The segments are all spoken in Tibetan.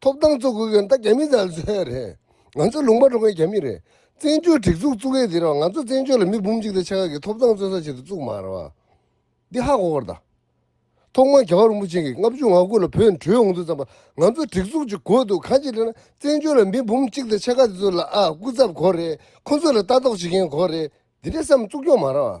ཐོབ་ཐང་རྩོད་དགོས་མཁན་ད་རྒྱ་མི་ཚོ་རེད། ང་ཚོ་ལུང་པ་གྲོང་ཁྱེར་རྒྱ་མི་རེད། བཙན་བྱོལ་སྒྲིག་འཛུགས་བཙུགས་མཁན་དེ་རེད་བ་ང་ཚོ་བཙན་བྱོལ་ལ་མི་འབུམ་གཅིག་དང་ཕྱེད་ཀ་གི་ཐོབ་ཐང་རྩོད་ས་བྱེད་དུ་བཙུགས་མ་རེད་བ། འདི་ཧ་གོ་གོ་རེད། ཐོག་མར་རྒྱ་གར་རིན་པོ་ཆེན་གྱི་ལྔ་བཅུ་ང་དགུ་ལ་བོད་ནས་བྲོས་འོང་དུས་ཙམ་པ་ང་ཚོ་སྒྲིག་འཛུགས་ཀྱི་གོ་དུ་གང་ཅི་རེད་ན་བཙན་བྱོལ་ལ་མི་འབུམ་གཅིག་དང་ཕྱེད་ཀ་དེ་ཚོ་ལ་ཨ་སྐུ་ཚབ་གོ་རེད་ཁོ་ཚོ་ལ་ལྟ་རྟོག་བྱེད་མཁན་གོ་རེད་འདི་འདྲའི་བསམ་བཙུགས་སྐྱོང་མ་རེད་བ།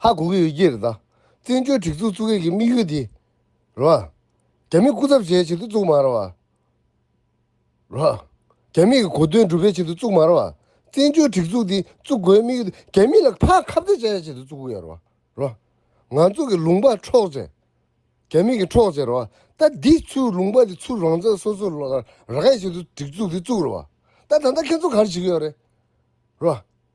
ཧ་གོ་གི་ཡོད་ཀྱི་རེད་ད། བཙན་བྱོལ་སྒྲིག་འཛུགས་བཙུགས་མཁན་གྱི་དམིགས་ཡུལ་དེ། རེད་བ། རྒྱ་མི་སྐུ་ཚབ་བྱས་ཕྱིར་དུ་བཙུགས་མ་རེད་བ། རེད་བ། རྒྱ་མི་གི་གོ་དོན་སྒྲུབ་པའི་ཕྱིར་དུ་བཙུགས་མ་རེད་བ། བཙན་བྱོལ་སྒྲིག་འཛུགས་དེ་བཙུགས་དགོས་དམིགས་ཡུལ་དེ་རྒྱ་མི་ལ་ཕ་ཁ་བརྡ་བྱ་ཡའི་ཕྱིར་དུ་བཙུགས་གི་ཡོད་རེད་བ། རེད་བ། ང་ཚོ་གི་ལུང་པ་འཕྲོག་བྱེད། རྒྱ་མི་གི་འཕྲོག་བྱེད་རེད་བ། ད་འདི་ཚོའི་ལུང་པ་དེ་ཚུར་རང་བཙན་སོ་སོ་རག་ཡའི་ཕྱིར་དུ་སྒྲིག་འཛུགས་དེ་བཙུགས་རེད་བ། ད་ད་ལྟ་ཁྱེད་ཚོ་ག་རེ་བྱེད་ཀྱི་ཡོད་རེད། རེད་བ།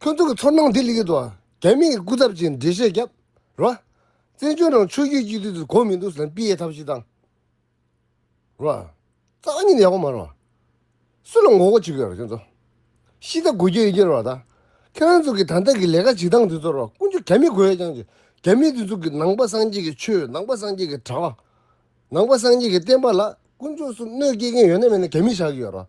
ཁྱོད་ཚོ་གི་ཚོར་སྣང་དེ་ལེགས་ཏུ་རྒྱ་མིའི་སྐུ་ཚབ་ཀྱི་འགྲེལ་བཤད་རྒྱབ་རོགས། བཙན་བྱོལ་ནང་ཆོས་རྒྱུད་གཅིག་སྡུད་དེ་གོ་མི་འདུག་ཟམ་པིའི་ཐབས་ཤེས་དང། རོགས། རྩ་བ་ཉིད་ཡག་པོ་མ་རོགས། སུ་ལ་ངོ་རྒོལ་བྱེད་གི་ཡོད་རོགས་ཁྱོད་ཚོ། ཤི་ད་དགོས་རྒྱུ་ཡིན་གྱི་རོགས་ད། ཁྱོད་རང་ཚོ་གི་ད་ལྟ་གི་ལས་ཀ་བྱེད་སྟངས་དེ་ཚོ་རོགས་ཀུན་སྤྱོད་རྒྱ་མི་དགོས་ཡ་ཀྱང་རྒྱ་མི་དེ་ཚོ་གི་ནང་པ་སངས་རྒྱས་ཀྱི་ཆོས་ནང་པ་སངས་རྒྱས་ཀྱི་གྲྭ་བ། ནང་པ་སངས་རྒྱས་ཀྱི་བསྟན་པ་ལ་ཀུན་སྤྱོད་གསུམ་གནོད་སྐྱེལ་མཁན་ཡོད་ན་མེད་ན་རྒྱ་མི་བཞག་གི་ཡོད་རོགས།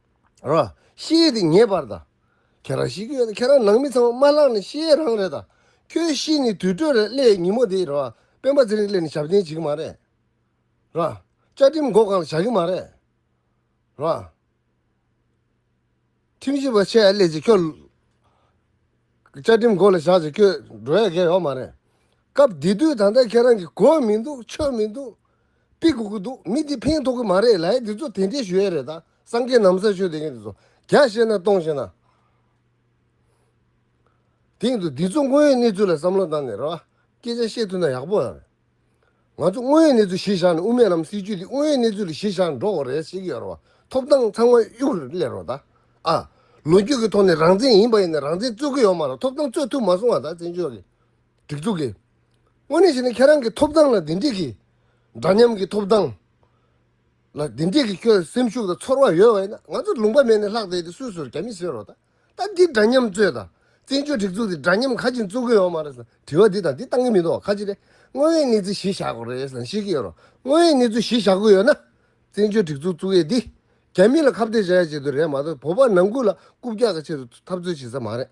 ར་ཤེས་དེ་ངེས་པར་དང། ཁྱེད་རང་ཤེས་ཀྱི་ཡོད་དང་ཁྱེད་རང་ནང་མི་ཚང་མ་མ་ལགས་ནི་ཤེས་རང་རེད་དང། ཁྱོད་ཤེས་ནི་དུས་སྤྲོད་རེད་སླེ་ཉིན་མོ་དེ་ར་སྤེན་པ་ཚེ་རིང་སླེ་ནི་ཞབས་འདེན་བྱེད་ཀྱི་མ་རེད། ར་བཅའ་ཁྲིམས་མགོ་གང་ལ་བཞག་གི་མ་རེད། ར་ཁྲིམས་ཞིབ་པ་ཆེ་སླེ་ཅིག་ཁྱོད་བཅའ་ཁྲིམས་མགོ་ལ་བཞག་ཅིག་ཁྱོད་འགྲོ་ཡ་གས་ཡོག་མ་རེད། སྐབས་དེ་དུས་ད་ལྟ་ཁྱེད་རང་གིས་གོ་མི་འདུག་ཆོད་མི་འདུག་དཔེ་དགོས་ཀྱི་འདུག་མི་འདི་ཕན་ཐོག་གི་མ་རེད་ལའི་འདི་ཚོ་དེ་འདྲའི་ཞུ་ཡས་རེད་ད་སངས་རྒྱས་ནམ་ས་ཆོས་དེ་གིན་དེ་ཚོ་རྒྱ་བཤད་ན་གཏོང་བཤད་ན། དེ་གིན་དུ་འདི་ཚོ་དངོས་ཡོད་གནས་ཚུལ་ལ་བསམ་བློ་བཏང་ནས་རེད་བ་སྐད་ཆ་བཤད་ཐུབ་ན་ཡག་པོ་ཡང་རེད་ང་ཚོ་དངོས་ཡོད་གནས་ཚུལ་གཞིར་བཞག་ནས་དབུ་མེད་ལམ་སྲིད་ཇུས་འདི་དངོས་ཡོད་གནས་ཚུལ་ལ་གཞིར་བཞག་ནས་འགྲོ་དགོས་རེད་བཤད་ཀྱི་ཡོད་རེད་བ་ཐོབ་ཐང་ཚང་མ་གཡུག་རེད་ལེ་རོ་ད་ཨ། ལོ་རྒྱུས་ཀྱི་ཐོག་ནས་རང་བཙན་ཡིན་པ་ཡིན་ན་རང་བཙན་རྩོད་ཀྱི་ཡོད་མ་རེད་ཐོབ་ཐང་རྩོད་ཐུབ་མ་སོང་བ་ད་བཙན་བྱོལ་གྱི། སྒྲིག་འཛུགས་ཀྱིས་དངོས་གནས་བྱས་ན་ཁྱེད་རང་གི་ཐོབ་ཐང་ལ་བདེ་འཇིགས་ཀྱིས་འདྲ་མཉམ་གྱི་ཐོབ་ཐང་ལ་བདེ་འཇིགས་ཀྱི་ཁྱོད་སེམས་ཤུགས་དང་ཚོར་བ་ཡོད་བ་ཡིན་ན་ང་ཚོ་ལུང་པ་མེད་ནས་ལྷག་བསྡད་དེ་སུས་ཟུར་རྒྱ་མི་བཟོས་རོགས་ད་ལྟ་འདི་འདྲ་མཉམ་རྩོད་དང་བཙན་བྱོལ་སྒྲིག་འཛུགས་འདི་འདྲ་མཉམ་ག་ཅིག་རྩོད་གི་ཡོད་མ་རེད་ཟེར་དྲི་བ་འདི་དང་འདི་བཏང་གི་མི་འདུག་ཁ་ཅིག་ལས་དངོས་ཡོད་གནས་ཚུལ་གཞི་བཞག་གི་རེད་ཟེར་ཤེས་ཀྱི་ཡོད་རོགས་དངོས་ཡོད་གནས་ཚུལ་གཞི་བཞག་གི་ཡོད་ན་བཙན་བྱོལ་སྒྲིག་འཛུགས་བཙུགས་ཡས་འདི་རྒྱ་མི་ལ་ཁ་བརྡས་བྱ་ཡས་བྱེད་དུ་རེད་མ་གཏོགས་བོད་པ་ནང་ཁུལ་ལ་རྐུབ་བཀྱག་གི་ཆེད་དུ་འཐབ་རྩོད་བྱེད་ས་མ་རེད།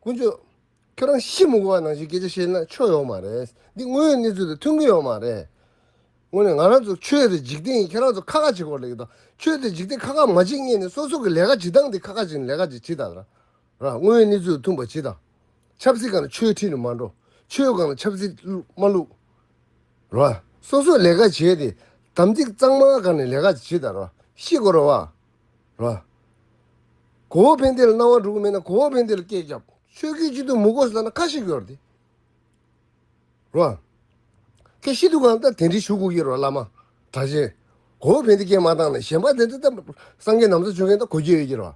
ཀུན་སྤྱོད། ཁྱོད་རང་ཤི་མི་དགོས་པ་ནང་བཞིན་སྐད་ཆ་བཤད་ན་ཆོ་ཡོད་མ་རེད། འདི་དངོས་ཡོད་གནས་ཚུལ་དང་མཐུན་གྱི་ཡོད་མ་རེད། དངོས་ནས་ང་རང་ཚོ་ཆོས་དེ་འཇིག་རྟེན་ཡིན་ཁྱེད་རང་ཚོ་ཁ་ཁ་བྱེད་སྐོར་ལས་ཀྱི་དང་ཆོས་དེ་འཇིག་རྟེན་ཁ་ཁ་མ་བྱེད་ངེས་ནས་སོ་སོ་གི་ལས་ཀ་བྱེད་སྟངས་དེ་ཁ་ཁ་བྱེད་ལས་ཀ་ཅིག་བྱེད་དང། དངོས་ཡོད་གནས་ཚུལ་དང་མཐུན་པ་བྱེད་དང། ཆབ་སྲིད་སྒང་ལ་ཆོས་ཁྲིད་ནས་མ་འགྲོ། ཆོས་སྒང་ལ་ཆབ་སྲིད་བླུགས་མ་བླུགས། སོ་སོ་ལས་ཀ་བྱས་ཏེ་དམ་ཚིག་གཙང་མ་བསྒར་ནས་ལས་ཀ་ཅིག་བྱེད་དང། ཤི་དགོས་རེད་བ། ལ། གོ་བོ་ཕན་བདེ་ལ་སྣང་བ་འགྲོ་གི་མེད་ན་གོ་བོ་ཕན་བདེ་ལ་སྐད་བརྒྱབ། ཆོས་སྐད་གཅིག་ཏུ་མུ་གོ་ས་ལ་ཁ་ཞིག་ཡོར་ཏེ། ལ། ཁྱེད་ཤི་དུ་གང་ལྟར་དེ་འདྲི་ཞུ་གུ་ཡོར་བ་བླ་མ། གྲགས་ཆེན། གོ་བོ་ཕན་བདེ་སྐད་མ་བཏང་ན་གཞན་པ་དེ་འདྲ་ལྟ་སངས་རྒྱས་ནམ་མཚོ་ཆོས་མཁན་ལྟ་གོ་རྒྱུ་ཡོད་ཀྱི་རོ།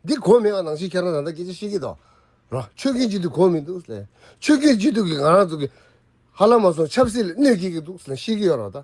འདི་གོ་མེད་བ་ནང་བཞིན་ཁྱེད་རང་ད་ལྟ་སྐད་ཆ་བཤད་ཀྱི་འདུག། ལ། ཆོས་སྐད་གཅིག་ཏུ་གོ་མི་འདུག་ཟེར། ཆོས་སྐད་གཅིག་ཏུ་གི་ང་རང་ཚོ་གི། ཧ་ལམ་མ་སོང་ཆབ་སྲིད་ལ་གནོད་སྐྱེལ་གྱི་འདུག་ཟེར་ན་ཤེས་ཀྱི་ཡོར་བ་ལྟ།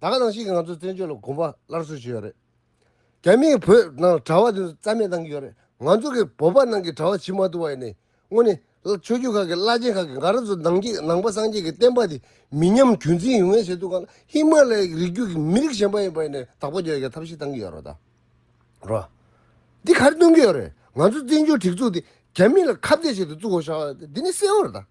ད་ག་ནང་བཞིན་ང་ཚོ་བཙན་བྱོལ་ལ་གོམ་པ་སླར་གསོ་བྱེད་ཡོད་རེད་རྒྱ་མིས་བོད་ནང་གྲྭ་བ་དེ་ཚོ་རྩ་མེད་གཏང་གི་ཡོད་རེད་ང་ཚོ་གི་བོད་པ་ནང་གི་གྲྭ་བ་བྱིས་མ་ཐུབ་པ་ཡིན་ནའི་དངོས་ནས་ཆོས་རྒྱུད་ཁག་གི་བླ་ཆེན་ཁག་གི་འགའ་རེ་ཚོ་ནང་གི་ནང་པ་སངས་རྒྱས་ཀྱི་བསྟན་པ་དེ་མི་ཉམས་རྒྱུན་འཛིན་ཡོང་ངེས་བྱེད་ཐུབ་གང་ལ་ཧི་མ་ལ་ཡའི་རིགས་རྒྱུད་ཀྱི་མི་རིགས་གཞན་པ་ཡིན་པ་ཡིན་ནའི་དག་པ་འཇོག་ཡ་ཐབས་ཤེས་གཏང་གི་ཡོད་རོ་ད་རོ། འདི་ག་རེ་གཏོང་གི་ཡོད་རེད་ང་ཚོ་བཙན་བྱོལ་སྒྲིག་འཛུགས་དེ་རྒྱ་མི་ལ་ཁ་བརྡས་བྱེད་དུ་བཙུགས་ཤག་ལ་དེ་ནས་གསལ་བོ་རེད་ད།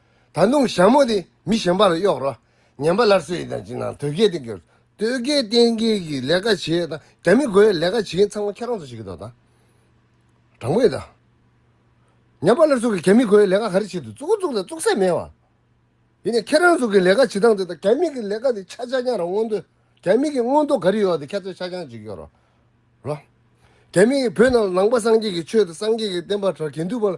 ད་དུང་ཞྭ་མོ་དེ་མི་གཞན་པ་ལ་གཡོགས་རོགས་ཉན་པ་སླར་གསོས་ཡིན་དང་ཅི་ནའང་དོལ་རྒྱལ་གཏན་འཁེལ། དོལ་རྒྱལ་གཏན་འཁེལ་གྱིས་ལས་ཀ་བྱེད་དང་རྒྱ་མི་རྒོལ་བའི་ལས་ཀ་བྱེད་མཁན་ཚང་མ་ཁྱེད་རང་ཚོ་ཞིག་གི་དོ་དང། དྲང་པོ་ཡིན་དང། ཉན་པ་སླར་གསོ་གིས་རྒྱ་མི་རྒོལ་བའི་ལས་ཀ་ག་རེ་བྱེད་དུ་བཅུག་གོ་བཅུག་དང་བཅུག་སའི་མེད་བ། ཡིན་ནའི་ཁྱེད་རང་ཚོ་གི་ལས་ཀ་བྱེད་སྟངས་དེ་དང་རྒྱ་མི་གི་ལས་ཀ་དེ་ཆ་ཆ་རྐྱང་རང་མངོན་འདོད་རྒྱ་མི་གི་མངོན་འདོད་ག་རེ་ཡོད་དེ་ཁྱེད་ཚོས་ཆ་རྐྱང་བྱེད་ཀྱི་ཡོད་རོགས། རོགས། རྒྱ་མི་ཡིས་བོད་ནང་ལ་ནང་པ་སངས་རྒྱས་ཀྱི་ཆོས་དང་སངས་རྒྱས་ཀྱི་བསྟན་པ་དྲ་གན་དུལ་བ་ལ།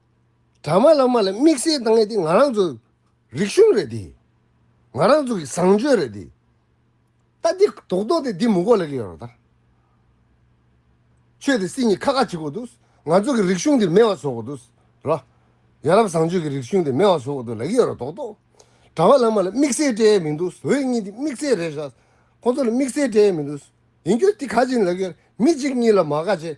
དྲ་མ་བླ་མ་ལ་དམིགས་བསལ་བཏང་ཡས་དེ་ང་རང་ཚོ་རིག་གཞུང་རེད་དེ། ང་རང་ཚོ་གི་བཟང་སྤྱོད་རེད་དེ། ད་འདི་དོག་དོག་དེ་འདི་མུ་གོ་ལ་གི་ཡོད་ར་ད། ཆོས་དེ་སི་ཉི་ཁ་ཁ་བྱེད་གོ་དུས་ང་ཚོ་གི་རིག་གཞུང་དེ་མེད་བ་བཟོ་གོ་དུས་ར། ཡ་རབས་བཟང་སྤྱོད་གི་རིག་གཞུང་དེ་མེད་བ་བཟོ་གོ་དུས་ལ་གི་ཡོད་ར་དོག་དོག། དྲ་བ་བླ་མ་ལ་དམིགས་བསལ་སྤྲད་ཡས་མི་འདུག་འོས་གཉིས་དེ་དམིགས་བསལ་རེད་ཤག་ཁོང་ཚོ་ལ་དམིགས་བསལ་སྤྲད་ཡས་མི་འདུག་ཡིན་གྱུར་དེ་ག་ཅིག་ལ་གི་ཡོད་ར་མི་གཅིག་གཉིས་ལ་མ་ག་བྱེད།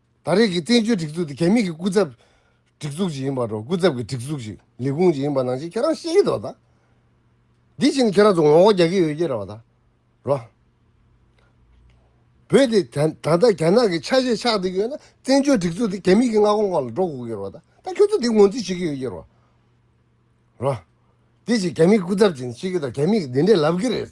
ད་རེས་ཀྱི་བཙན་བྱོལ་སྒྲིག་འཛུགས་དེ་གད་སྙིགས་ཀྱི་སྐུ་ཚབ་སྒྲིག་འཛུགས་ཅིག་ཡིན་པར་རོ་སྐུ་ཚབ་ཀྱི་སྒྲིག་འཛུགས་ཤིག་ལས་ཁུངས་ཅིག་ཡིན་པ་ནང་བཞིན་ཁྱེད་རང་ཤེས་ཀྱི་འདུག་ད། འདི་བཞིན་དུ་ཁྱེད་རང་ཚོ་ངོ་ལྐོག་རྒྱག་གི་ཡོད་ཀྱི་རེད་བ་ད། རོ། བོད་དེ་ད་ད་ལྟ་རྒྱ་ནག་གི་ཆ་ཤས་ཆགས་བསྡད་ཀྱི་ཡོད་ན་བཙན་བྱོལ་སྒྲིག་འཛུགས་དེ་གད་སྙིགས་ཀྱི་མངའ་ཁོངས་ཁག་ལ་འགྲོ་དགོས་ཀྱི་རེད་བ་ད་ད་ཁྱོད་ཚོ་འདི་ངོས་འཛིན་བྱེད་ཀྱི་ཡོད་ཀྱི་རེད་བ། རོ། དེ་བཞིན་གད་སྙིགས་སྐུ་ཚབ་ཅིག་ནི་ཤེས་ཀྱི་འདུག་གད་སྙིགས་འདི་འདྲས་ལབ་ཀྱི་རེད།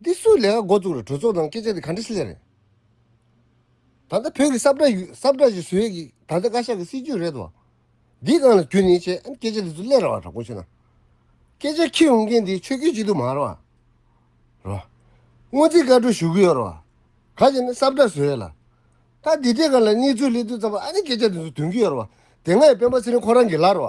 འདི་སུའི་ལས་ཀ་མགོ་བཙུགས་རེད་གྲོས་ཚོགས་ནང་སྐད་ཆ་འདི་ག་འདྲ་ཤི་ལེ་རེད། ད་ལྟ་བོད་ཀྱི་སྲབ་གྲ་སྲབ་གྲ་ཞིག་བཟོས་ཡོད་ཀྱི་ད་ལྟ་བཀའ་ཤག་གི་སྲིད་ཇུས་རེད་དོ། འདི་གང་ལ་གྱུར་ནས་བྱས་ཨེ་སྐད་ཆ་འདི་ཚོ་ལས་ར་བ་དྲག་པོ་བྱས་ན། སྐད་ཆ་ཁྱེར་ཡོང་མཁན་འདི་ཆོས་སྐྱོན་གཅིག་དུ་མ་ར་བ། ར་བ། སྔོན་རྩིས་བཀའ་འཁྲོལ་ཞུ་གི་ཡོད་ར་བ། ག་ཅེ་ན་སྲབ་གྲ་བཟོས་ཡོད་ལ། ད་འདི་འདྲའི་གང་ལ་གནས་ཚུལ་གླེང་དུས་ཙམ་པ་ཨ་ནི་སྐད་ཆ་འདི་ཚོ་དོན་གྱི་ཡོད་ར་བ། དེ་སྔ་ཡི་སྤེན་པ་ཚེ་རིང་ཁོ་རང་གི་ལ་ར་བ།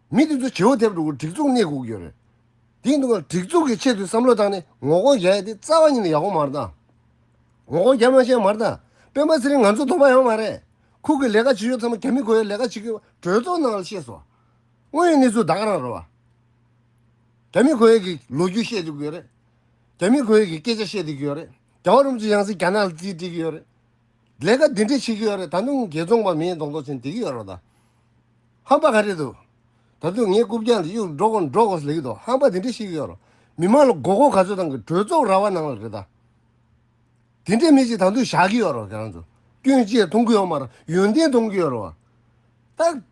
མི་དེ་ཚོ་བྱེའུ་དེབ་འགྲོ་གི་སྒྲིག་འཛུགས་གནས་སྒུག་ཡོད་རེད། དེའི་འདུག་ཁང་སྒྲིག་འཛུགས་ཀྱི་ཆེད་དུ་བསམ་བློ་བཏང་ནས་ངོ་རྒོལ་རྒྱག་ཡ་དེ་རྩ་བ་ཉིད་ནས་ཡག་པོ་མ་རེད། ངོ་རྒོལ་རྒྱ་མ་བཤད་མ་རེད། སྤེན་པ་ཚེ་རིང་ང་ཚོ་དོགས་པ་ཡང་མ་རེད། ཁུག་གི་ལས་ཀ་བྱེད་ཞོར་ཚང་མ་རྒྱ་མི་གོ་ཡའི་ལས་ཀ་བྱེད་གི་བ་གྲོས་ཚོགས་ནང་ལ་བཤད་སོང། དངོས་ཡོད་གནས་ཚུལ་བདག་རང་རེད་བ། རྒྱ་མི་གོ་ཡའི་གི་ལོ་རྒྱུས་བཤད་སྡོད་གི་ཡོད་རེད། རྒྱ་མི་གོ་ཡའི་གི་སྐད་ཆ་བཤད་སྡོད་གི་ཡོད་རེད། རྒྱ་བ་རུམ་ཚོ་ཡང་སྲིད་རྒྱ་ནག་ལ་རྩིས་སྤྲད་གི་ཡོད་རེད། ལས་ཀ་འདི་འདྲ་བྱེད་ཀྱི་ཡོད་རེད་ད་དུང་རྒྱལ་འཛོང་པ་མིའི་གདོང་ཐོག་ཆེན་བསྡད་ཀྱི་ཡོད་རེད་དཱ། ཧམ་པ་ག་རེད་འདུག་ད་དུང་ངས་རྐུབ་བཀྱག་འདི་གཡུག་འགྲོ་དགོ་འགྲོ་དགོ་ཟེར་གྱི་འདུག་ཧམ་པ་འདི་འདྲ་བྱེད་ཀྱི་ཡོད་རེད་མི་མང་ལ་མགོ་སྐོར་ག་ཚོད་གཏང་གི་གྲོས་ཚོགས་ར་བ་ནང་ལ་རེད་དཱ། དེ་འདྲའི་མི་ཞིག་ད་དུང་བཞག་གི་ཡོད་རེད་ཁྱེད་རང་ཚོ་སྐྱོན་བཅས་གཏོང་གི་ཡོད་མ་རེད་ཡོན་ཏན་གཏོང་གི་ཡོད་རེད་བ། ད།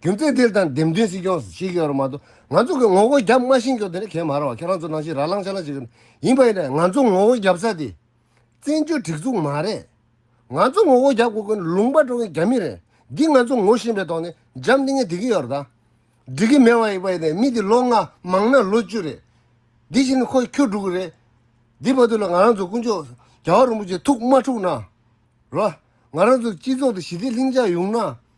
རྒྱུ་མཚན་དེར་དང་འདེམས་ཐོན་སྲིད་སྐྱོང་ཞིག་ཡོད་རུང་མ་གཏོགས་ང་ཚོ་གི་ངོ་རྒོལ་རྒྱབ་མ་ཤེས་མགྱོགས་དེ་ནི་གལ་མ་རང་བ་ཁྱེད་རང་ཚོ་ནང་བཞིན་ར་ལང་ཆ་ལང་ཞིག་ཡིན་པ་ཡིན་ན་ང་ཚོ་ངོ་རྒོལ་རྒྱབ་ས་དེ་བཙན་བྱོལ་སྒྲིག་འཛུགས་མ་རེད། ང་ཚོ་ངོ་རྒོལ་རྒྱབ་དགོས་མཁན་ལུང་པ་འགྲོ་མཁན་རྒྱ་མི་རེད་འདི་ང་ཚོ་ངོ་ཤེས་པའི་ཐོག་ནས་འཇམ་ལྡིང་ངེ་དེ་གི་ཡོར་ད་འགྲིག་གི་མེད་བ་ཡིན་པ་ཡིན་ན་མི་དེ་ལོ་ལྔ་མང་ན་ལོ་བཅུ་རེད་དེ་བཞིན་ནི་ཁོ་ཁྱོ་དྲུག་རེད་འདི་བར་དུ་ལ་ང་རང་ཚོ་དཀོན་མཆོག་རྒྱ་བ་རིན་པོ་ཆེ་ཐུགས་མ་འཁྲུགས་ན་རོགས། ང་རང་ཚོ་སྤྱི་ཚོགས་དེ་ཞི་བདེ་ལྷིང་འཇགས་ཡོང་ན།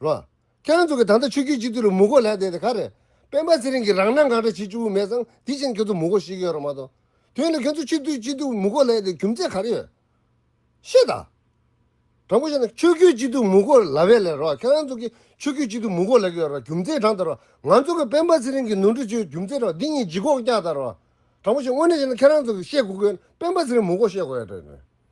རོ། ཁྱེད་རང་ཚོ་གིས་ད་ལྟ་ཆོས་རྒྱུད་སྤྱི་འཐུས་ལ་མུ་གོ་ལས་བསྡད་དེ་ག་རེད། སྤེན་པ་ཚེ་རིང་གིས་རང་སྣང་གང་འདྲ་བྱེད་བཅུག་གི་མེད་ཙང་དེ་བཞིན་ཁྱེད་ཚོ་མུ་གོ་ཤེས་ཀྱི་ཡོད་རེད་མ་གཏོགས། དེ་ལས་ཁྱེད་ཚོ་སྤྱི་འཐུས་སྤྱི་འཐུས་མུ་གོ་ལས་བསྡད་རྒྱུ་མཚན་ག་རེ་ཡོད། ཤེས་དང། དྲང་པོ་བཤད་ན་ཆོས་རྒྱུད་སྤྱི་འཐུས་མུ་གོ་ལ་བས་ལས་རོགས་ཁྱེད་རང་ཚོ་གིས་ཆོས་རྒྱུད་སྤྱི་འཐུས་མུ་གོ་ལས་ཀྱི་ཡོད་རེད་རྒྱུ་མཚན་དྲང་དང་རོགས་ང་ཚོ་གིས་སྤེན་པ་ཚེ་རིང་གིས་ནོར་འཁྲུལ་བྱས་ཡོད་རྒྱུ་མཚན་དྲང་འདི་གཉིས་ལྗིད་ཁོག་རྒྱག་དང་རོགས། དྲང་པོ་བཤད་དངོས་གནས་བཤད་ན་ཁྱེད་རང་ཚོ་གིས་ཤེས་དགོས་དགོས་ན་སྤེན་པ་ཚེ་རིང་མུ་གོ་ཤེས་དགོས་ཡོད་རེད།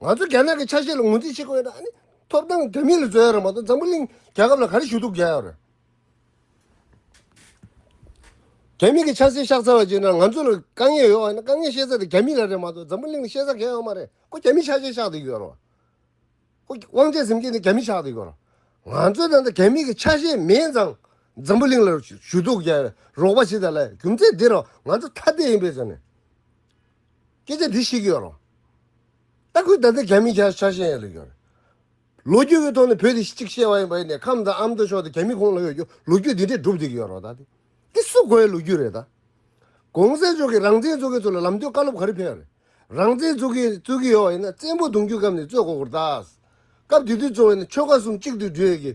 ང་ཚོ་རྒྱ་ནག་གི་ཆ་ཤས་ལ་ངོས་འཛིན་བྱེད་དགོས་ན་ནི་ཐོབ་ཐང་དོན་མེད་ལ་བཟོ་ཡ་རང་མ་གཏོགས་འཛམ་བུ་གླིང་རྒྱལ་ཁབ་ལ་ག་རེ་ཞུ་གཏུག་རྒྱག་ཡ་རེད། རྒྱ་མི་གི་ཆ་སེ་ཤག་ཚ་བ་བྱེད་ན་ང་ཚོ་ལ་དཀའ་ངལ་ཡོད་བ་ནི་དཀའ་ངལ་ཤེས་ས་དེ་རྒྱ་མི་ལ་རེད་མ་གཏོགས་འཛམ་བུ་གླིང་ལ་ཤེས་ས་གས་ཡོད་མ་རེད་ཁོ་རྒྱ་མི་ཆ་ཤས་ཤག་དེ་ཡོད་རོ། ཁོ་དབང་ཆ་ཟིམ་ཁེ་ནི་རྒྱ་མི་ཤག་དེ་ཡོད་རོ། ང་ཚོ་ད་ལྟ་རྒྱ་མི་གི་ཆ་ཤས་མེད་ཙང་འཛམ་བུ་གླིང་ལ་ཞུ་གཏུག་རྒྱག་ཡ་རོགས་པ་བྱེད་ད་ལ་རྒྱུ་མཚན་དེ་རོ་ང་ཚོ་ཐ་དད་ཡིན་པས་སོ་ནི། སྐད་ཆ་འདི་ཤེས་ཀྱི་ཡོད་རུང། ལྟ་སྐུལ་ད་ལྟ་ག་མི་ཆགས་ཆགས་བཞིན་ཡོད་རེད་ཀྱང། ལོ་རྒྱུས་ཀྱི་ཐོག་ནས་བོད་དེ་གཅིག་བཤད་པ་ཡིན་པ་ཡིན་ནའི་ཁམས་དང་ཨ་མདོ་ཕྱོགས་དེ་ག་མི་ཁོང་ལ་ཡོད་རྒྱུ་ལོ་རྒྱུས་འདི་འདྲས་བསྒྲུབ་བསྡད་ཀྱི་ཡོད་རོགས་ད། འདི་སུ་གོ་ཡའི་ལོ་རྒྱུས་རེད་ད། གོང་གསལ་ཕྱོགས་ཀྱི་རང་བཙན་རྩོད་མཁན་ཚོ་ལ་ལམ་སྟོན་བཀའ་སློབ་ག་རེ་ཕེབས་རེད། རང་བཙན་རྩོད་མཁན་རྩོད་ཀྱི་ཡོད་བ་ཡིན་ན་བཙན་པོ་གདུང་རྒྱུད་སྐབས་ནས་རྩོད་གོ་དགོས་རེད་ད། སྐབས་དེ་དུས་རྩོད་བ་ཡིན་ན་ཆོལ་ཁ་གསུམ་གཅིག་ཏུ་བསྒྲིལ་གྱི།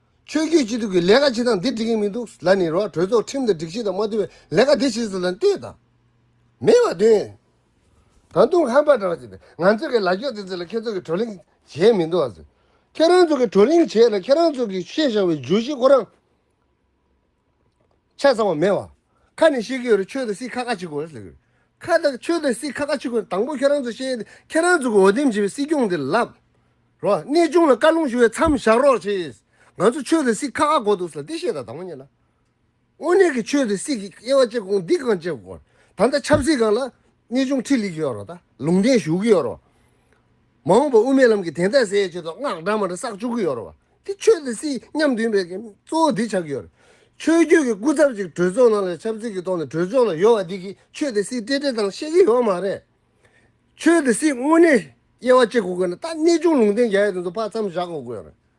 ཆོས་རྒྱུད་སྤྱི་འཐུས་ཀྱི་ལས་ཀ་ཆེ་ཐང་འདི་འགྲིག་གིན་མི་འདུག་ལ་ནི་རོགས་གྲོས་ཚོགས་ཁྲིམས་དང་སྒྲིག་གཞི་དང་མ་བསྡུར་བའི་ལས་ཀ་འདི་བྱེད་ཚུལ་ལ་ལྟོས་དང། མེད་པ་དོན། ད་དུང་ཧམ་པ་འདྲ་བ་བྱས་པས་ང་ཚོས་ཀྱི་ལ་འགྱོག་དེ་ཚོ་ལ་ཁྱེད་ཚོ་གིས་བགྲོ་གླེང་བྱས་མི་འདུག་ཟེར། ཁྱེད་རང་ཚོ་གིས་བགྲོ་གླེང་བྱས་ལ་ཁྱེད་རང་ཚོ་གིས་བཤད་བཞག་པའི་བརྗོད་གཞི་ཁོ་རང། ཆ་ཚང་བ་མེད་བ། ཁ་ནས་བཤད་ཀྱི་ཡོད་རེད་ཆོས་དང་སྲིད་ཁ་ཁ་ཆིག་གོ་རེད་ཟེར་གྱི་རེད། ཁ་དང་ཆོས་དང་སྲིད་ཁ་ཁ་ཆིག་གོ་དང་པོ་ཁྱེད་རང་ཚོས་བཤད་དེ་ཁྱེད་རང་ཚོ་གི་འོས་འདེམས་བྱས་པའི་སྲིད་སྐྱོང་དེ་ལབ་རོགས། གནས་ཆུང་ལ་བཀའ་ལུང་ཞུ་བའི་མཚམས་བཞག་རོགས་བྱས། ང་ཚོ་ཆོས་དང་སྲིད་ཁ་ཁ་གོ་འདུག་ཟེར་ལ་འདི་བཤད་དང་དང་པོ་གཉིས་ལ། དངོས་གནས་ཀྱི་ཆོས་དང་སྲིད་ཀྱི་དབྱེ་བ་དཔྱད་ཁོངས་འདི་གང་དཔྱད་དགོས་པ་རེད། ད་ལྟ་ཆབ་སྲིད་སྒང་ལ་གནས་ཆུང་ཁྲིད་ལེ་གྱི་ཡོད་རོགས་ད་ལུང་བསྟན་ཞུ་གི་ཡོད་རོགས། མ་འོངས་པར་དབུ་མའི་ལམ་གྱི་གདན་ས་ཟེར་ཆེད་དུ་སྔགས་འདྲ་མར་བསགས་བཅུག་གི་ཡོད་རེད་བ། དེ་ཆོས་དང་སྲིད་མཉམ་མཐུན་པའི་གཙོ་བོ་དེ་ཆགས་ཀྱི་ཡོད་རེད། ཆོས་བརྒྱུད་ཀྱི་སྐུ་ཚབ་ཅིག་གྲོས་ཚོགས་ནང་ལ་ཆབ་སྲིད་ཀྱི་ཐོག་ནས་གྲོས་ཚོགས་ལ་ཡོད་བ་དེ་གིས་ཆོས་དང་སྲིད་སྤྲེལ་སྤྲེལ་དང་ཤེས་ཀྱི་ཡོད་མ་རེད། ཆོས་དང་སྲིད་དངོས་གནས་དབྱེ་བ་ཕྱེ་དགོས་ཀྱི་ན་ད་གནས་ཆུང་ལུང་བསྟན་རྒྱ་ཡིག་དེ་ཚོ་ཕར་མཚམས་བཞག་དགོས་ཀྱི་ཡོད་རེད།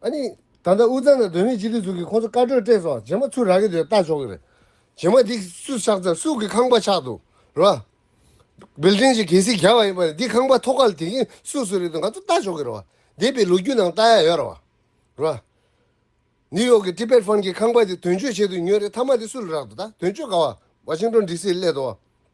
ཨ་ནི། ད་ལྟ་དབུས་གཙང་ན་དོན་མེད་སྤྱི་འཐུས་ཟུར་གྱིས་ཁོང་ཚོ་བཀའ་གྲོས་སྤྲད་སོང་རྗེས་མ་ཚུར་རག་གི་འདུག་ལྟ་ཆོག་གི་རེད། རྗེས་མ་འདི་སུས་ཆགས་ཚར་སུས་ཀྱི་ཁང་པ་ཆགས་འདུག་རེད་བ། Building ཞིག་གལ་སྲིད་རྒྱག་པ་ཡིན་པ་རེད་འདི་ཁང་པ་ཐོག་ཁ་ལ་དེ་མཁན་སུས་སུ་རེད་འདུག་ང་ཚོ་ལྟ་ཆོག་གི་རེད་བ། འདས་པའི་ལོ་རྒྱུས་ནང་ལྟ་ཡག་ཡོད་རེད་བ། རེད་བ། New York གི Tibet Fund གྱིས་ཁང་པ་དེ་དོན་གཅོད་བྱེད་དུ་ཉོས་རེད་མཐའ་མ་དེ་སུ་ལ་རག་འདུག་ད་དོན་གཅོད་ག་བ Washington DC ལ་སླེད་འདུག་བ།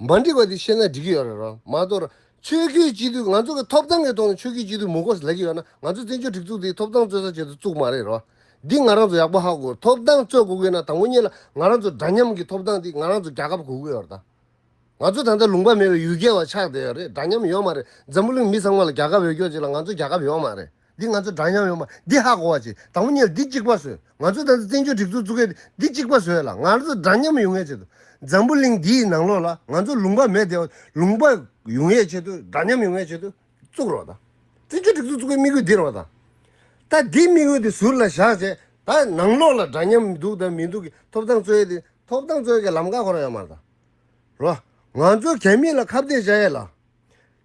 མ་འགྲིག་པ་དེ་ཤེས་ན་འགྲིག་གི་ཡོད་རེད་རོ་མ་གཏོགས། ཆོས་བརྒྱུད་སྤྱི་འཐུས་ང་ཚོ་གི་ཐོབ་ཐང་གི་ཐོག་ནས་ཆོས་བརྒྱུད་སྤྱི་འཐུས་མུ་ཁོས་ལེགས་ཀྱི་ཡོད་ན་ང་ཚོ་བཙན་བྱོལ་སྒྲིག་འཛུགས་དེ་ཐོབ་ཐང་རྩོད་ས་བྱེད་དུ་བཅུག་མ་རེད་རོ། འདི་ང་རང་ཚོ་ཡག་པོ་ཧ་གོ་ཐོབ་ཐང་རྩོད་གོ་གི་ན་དང་པོ་གཉིས་ལ་ང་རང་ཚོ་འདྲ་མཉམ་གི་ཐོབ་ཐང་དེ་ང་རང་ཚོ་རྒྱ་ཁབ་གོ་གི་ཡོད་རེད་ད། ང་ཚོ་ད་ལྟ་ལུང་པ་མེད་པའི་ཡུལ་རྒྱལ་བ་ཆགས་བསྡད་ཡོད་རེད་འདྲ་མཉམ་ཡོད་མ་རེད་འཛམ་བུ་གླིང་མི་ཚང་མ་ལ་རྒྱ་ཁབ་འོས་སྐྱོར་བྱེད་ལ་ང་ཚོ་རྒྱ་ཁབ་ཡོད་མ་རེད། འདི་ང་ཚོ་འདྲ་མཉམ་ཡོང་བ་འདི་ཧ་གོ་བ་ཆེ་དང་པོ་གཉིས་ལ་འདི་གཅིག་པ་བཟོས་ང་ཚོ་ད་ལྟ་བཙན་བྱོལ་སྒྲིག་འཛུགས་བཙུགས་མཁན་འདི་གཅིག་པ་བཟོས་ལ་ང་ཚོ་འདྲ་མཉམ་ཡོང་བའི་ཆེད་དུ་འཛམ་བུ་གླིང་འདི་ཡི་ནང་ལོགས་ལ་ང་ཚོ་ལུང་པ་མེད་དེའོ་ལུང་པ་ཡོང་བའི་ཆེད་དུ་འདྲ་མཉམ་ཡོང་བའི་ཆེད་དུ་བཙུགས་རོགས་དང་བཙན་བྱོལ་སྒྲིག་འཛུགས་བཙུགས་པའི་དམིགས་ཡུལ་འདི་རོགས་དང། ད་འདི་དམིགས་ཡུལ་འདི་ཟུར་ལ་བཞག་རྗེས་ད་ནང་ལོགས་ལ་འདྲ་མཉམ་འདུག་དང་མི་འདུག་གི་ཐོབ་ཐང་རྩོད་ཡས་དེ་ཐོབ་ཐང་རྩོད་ཡས་ཀྱི་ལམ་ཁ་ཁོ་རང་ཡོད་མ་རེད་དང་རོགས། ང་ཚོ་གད་མིག་ལ་ཁ་བརྡས་བྱ་ཡས་ལ།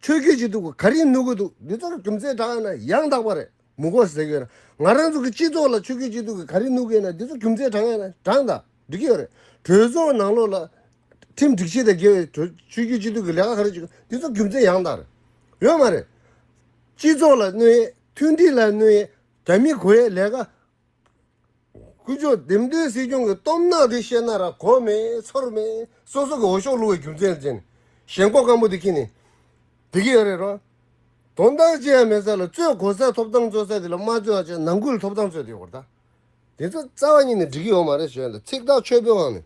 ཆོས་རྒྱུད་ཅིག་འདུག་ག་རེ་ནུས་དགོས་འདུག་འདི་ཚོར་རྒྱུ་མཚན་དྲག་ན་ཡང་དག་པ་རེད་མི་གོ་ཟེར་གི་ཡོད་ང་རང་ཚོ་གི་སྤྱི་ཚོགས་ལ་ཆོས་རྒྱུད་ཅིག་འདུག་གི་ག་རེ་ནུས་དགོས་ན་འདི་ཚོ་རྒྱུ་མཚན་དྲག་ན་དྲག་འདྲ་འགྲིག་གི་ཡོད་རེད་གྲོས་ཚོགས་ནང་ལོག་ལ། ཁྲིམས་སྒྲིག་ཆས་དང་འགལ་བའི་གྲོས་ཆོས་རྒྱུད་ཅིག་འདུག་གི་ལས་ཀ་ག་རེ་བྱེད་འདི་ཚོ་རྒྱུ་མཚན་ཡང་དག་རེད་ཡོད་མ་རེད། སྤྱི་ཚོགས་ལ་གནོད་ཡས་མཐུན་སྒྲིལ་ལ་གནོད་ཡས་རྒྱ་མི་གོ་ཡས་ལས་ཀ་དཀོན་མཆོག་ལྡེམ་འདོན་སྲིད་སྐྱོང་གི་སྟོབས་ནག་དེ་ཤེས་ན་ར་གོ་མེད་ཚོར་མེད་སོ་སོ་གི་འོ་ཤོག་བླུ་བའི་རྒྱུ་མཚན་ཅན། ཞེན་ལྐོག་སྐམ་པོ་དེ་ཁྱི་ནས་དེ་གི་ཡོད་རེད་རོ། དོན་དག་ཅི་ཡང་མེད་ས་ལ་རྩོད་གོ་ས་ཐོབ་ཐང་རྩོད་ས་དེ་ལ་མ་རྩོད་ཨ་ཅག་ནང་ཁུལ་ཐོབ་ཐང་རྩོད་དེ་ཡོད་རེད་ད། དེ་ཚོ་རྩ་བ་ཉིད་ནས་འགྲིག་གི་ཡོད་མ་རེད་བྱས་ལ་ཚིག་ཐག་ཆོད་པོའང་མེད།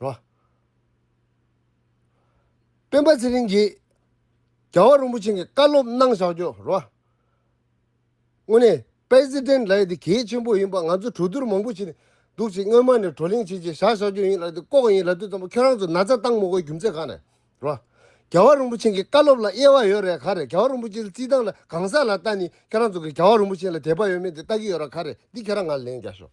རོ། སྤེན་པ་ཚེ་རིང་གིས་རྒྱལ་བ་རིན་པོ་ཆེན་གྱི་བཀའ་སློབ་གནང་བཞག་རྒྱུ་རོ། དངོས་གནས President ལགས་འདི་གལ་ཆེན་པོ་ཡིན་པ་ང་ཚོ་གྲོས་བསྡུར་མང་པོ་བྱས་ནས་འདུག་ཅིག་སྔོན་མ་ནས་བགྲོ་གླེང་བྱེད་བྱེད་བཞག་བཞག་རྒྱུ་ཡིན་ལགས་འདི་ལྐོག་ཡིན་ལབ་དུས་ཙམ་པོ་ཁྱོད་རང་ཚོ་ན་ཚ་བཏང་མོ་གོ་རྒྱུ་མཚན་གང་ནས་རོ། རྒྱལ་བ་རིན་པོ་ཆེན་གྱི་བཀའ་སློབ་ལ་དབྱེ་བ་ཡོད་རེད་ག་རེད་རྒྱལ་བ་རིན་པོ་ཆེན་རྩིས་སྟངས་ལ་གང་ཟག་ལ་ལྟ་ནི་ཁྱོད་རང་ཚོ་གིས་རྒྱལ་བ་རིན་པོ་ཆེན་ལ་དད་པ་ཡོད་མེད་དེ་ལྟ་གི་ཡོད་ར་ག་རེད་འདི་ཁྱོད་རང་ང་ལ་ལན་རྒྱག་ཞོག།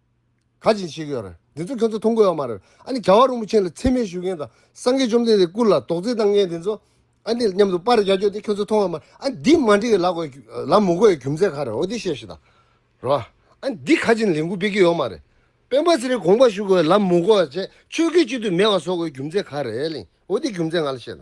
ག་ཅིག་བྱེད་ཀྱི་ཡོད་རེད། འདི་ཚོ་ཁྱོད་ཚོ་མཐོང་གི་ཡོད་མ་རེད། ཨ་ནི་ག་བ་རིན་པོ་ཆེ་ལ་འཚེ་མེད་ཞུ་མཁན་དང་སངས་རྒྱས་བཅོམ་ལྡན་འདས་སྐུ་ལ་དོགས་རྫི་བཏང་མཁན་དེ་ཚོ་ཨ་ནི་མཉམ་དུ་པར་རྒྱག་རྒྱུ་དེ་ཁྱོད་ཚོ་མཐོང་ཡོད་མ་རེད། ཨ་ནི་འདི་མ་འགྲིག་གི་ལ་གོ་ལ་མོ་གོ་ཡའི་རྒྱུ་མཚན་ག་རེད་འོ་དེ་བཤད་ཤི་ད་རེད། ཨ་ནི་འདི་ག་ཅིག་ལས་འགུལ་སྤེལ་གྱི་ཡོད་མ་རེད། སྤེན་པ་ཚེ་རིང་དགོངས་པ་ཞུ་དགོས་ལ་མོ་གོ་ཡ་བཅས་ཆོས་སྐད་གཅིག་ཏུ་མེད་པ་བཟོ་དགོས་རྒྱུ་མཚན་ག་རེད་ཨོ་དེ་རྒྱུ་མཚན་ང་ལ་བཤད་ད།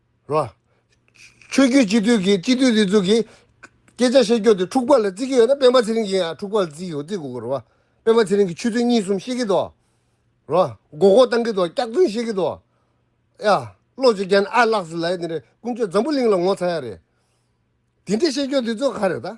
རོ། ཆོས་རྒྱུད་སྤྱི་འཐུས་ཀྱིས་སྤྱི་འཐུས་ལི་ཙུ་གིས། སྐད་ཆ་བཤད་རྒྱུ་དེ་འཁྲུག་པ་ལ་བརྩི་གི་ཡོད་ན་སྤེན་པ་ཚེ་རིང་གིས་ཡང་འཁྲུག་པ་ལ་བརྩི་གི་ཡོད་བརྩི་དགོས་གི་རེད། སྤེན་པ་ཚེ་རིང་གིས་ཆོས་ཚུལ་གཉིས་གསུམ་བཤད་གི་འདུག་རོ། མགོ་སྐོར་བཏང་གི་འདུག་སྐྱག་རྫུན་བཤད་གི་འདུག་ཡ། བློ་གཅིག་རྒྱན་ཨ་ལགས་སུ་ལས་དེ་འདྲས་ཀུན་སྤྱོད་འཛམ་བུ་གླིང་ལ་ངོ་ཚ་ཡ་རེད། དེ་འདྲས་བཤད་རྒྱུ་དེ་ཚོ་ག་རེད་ད།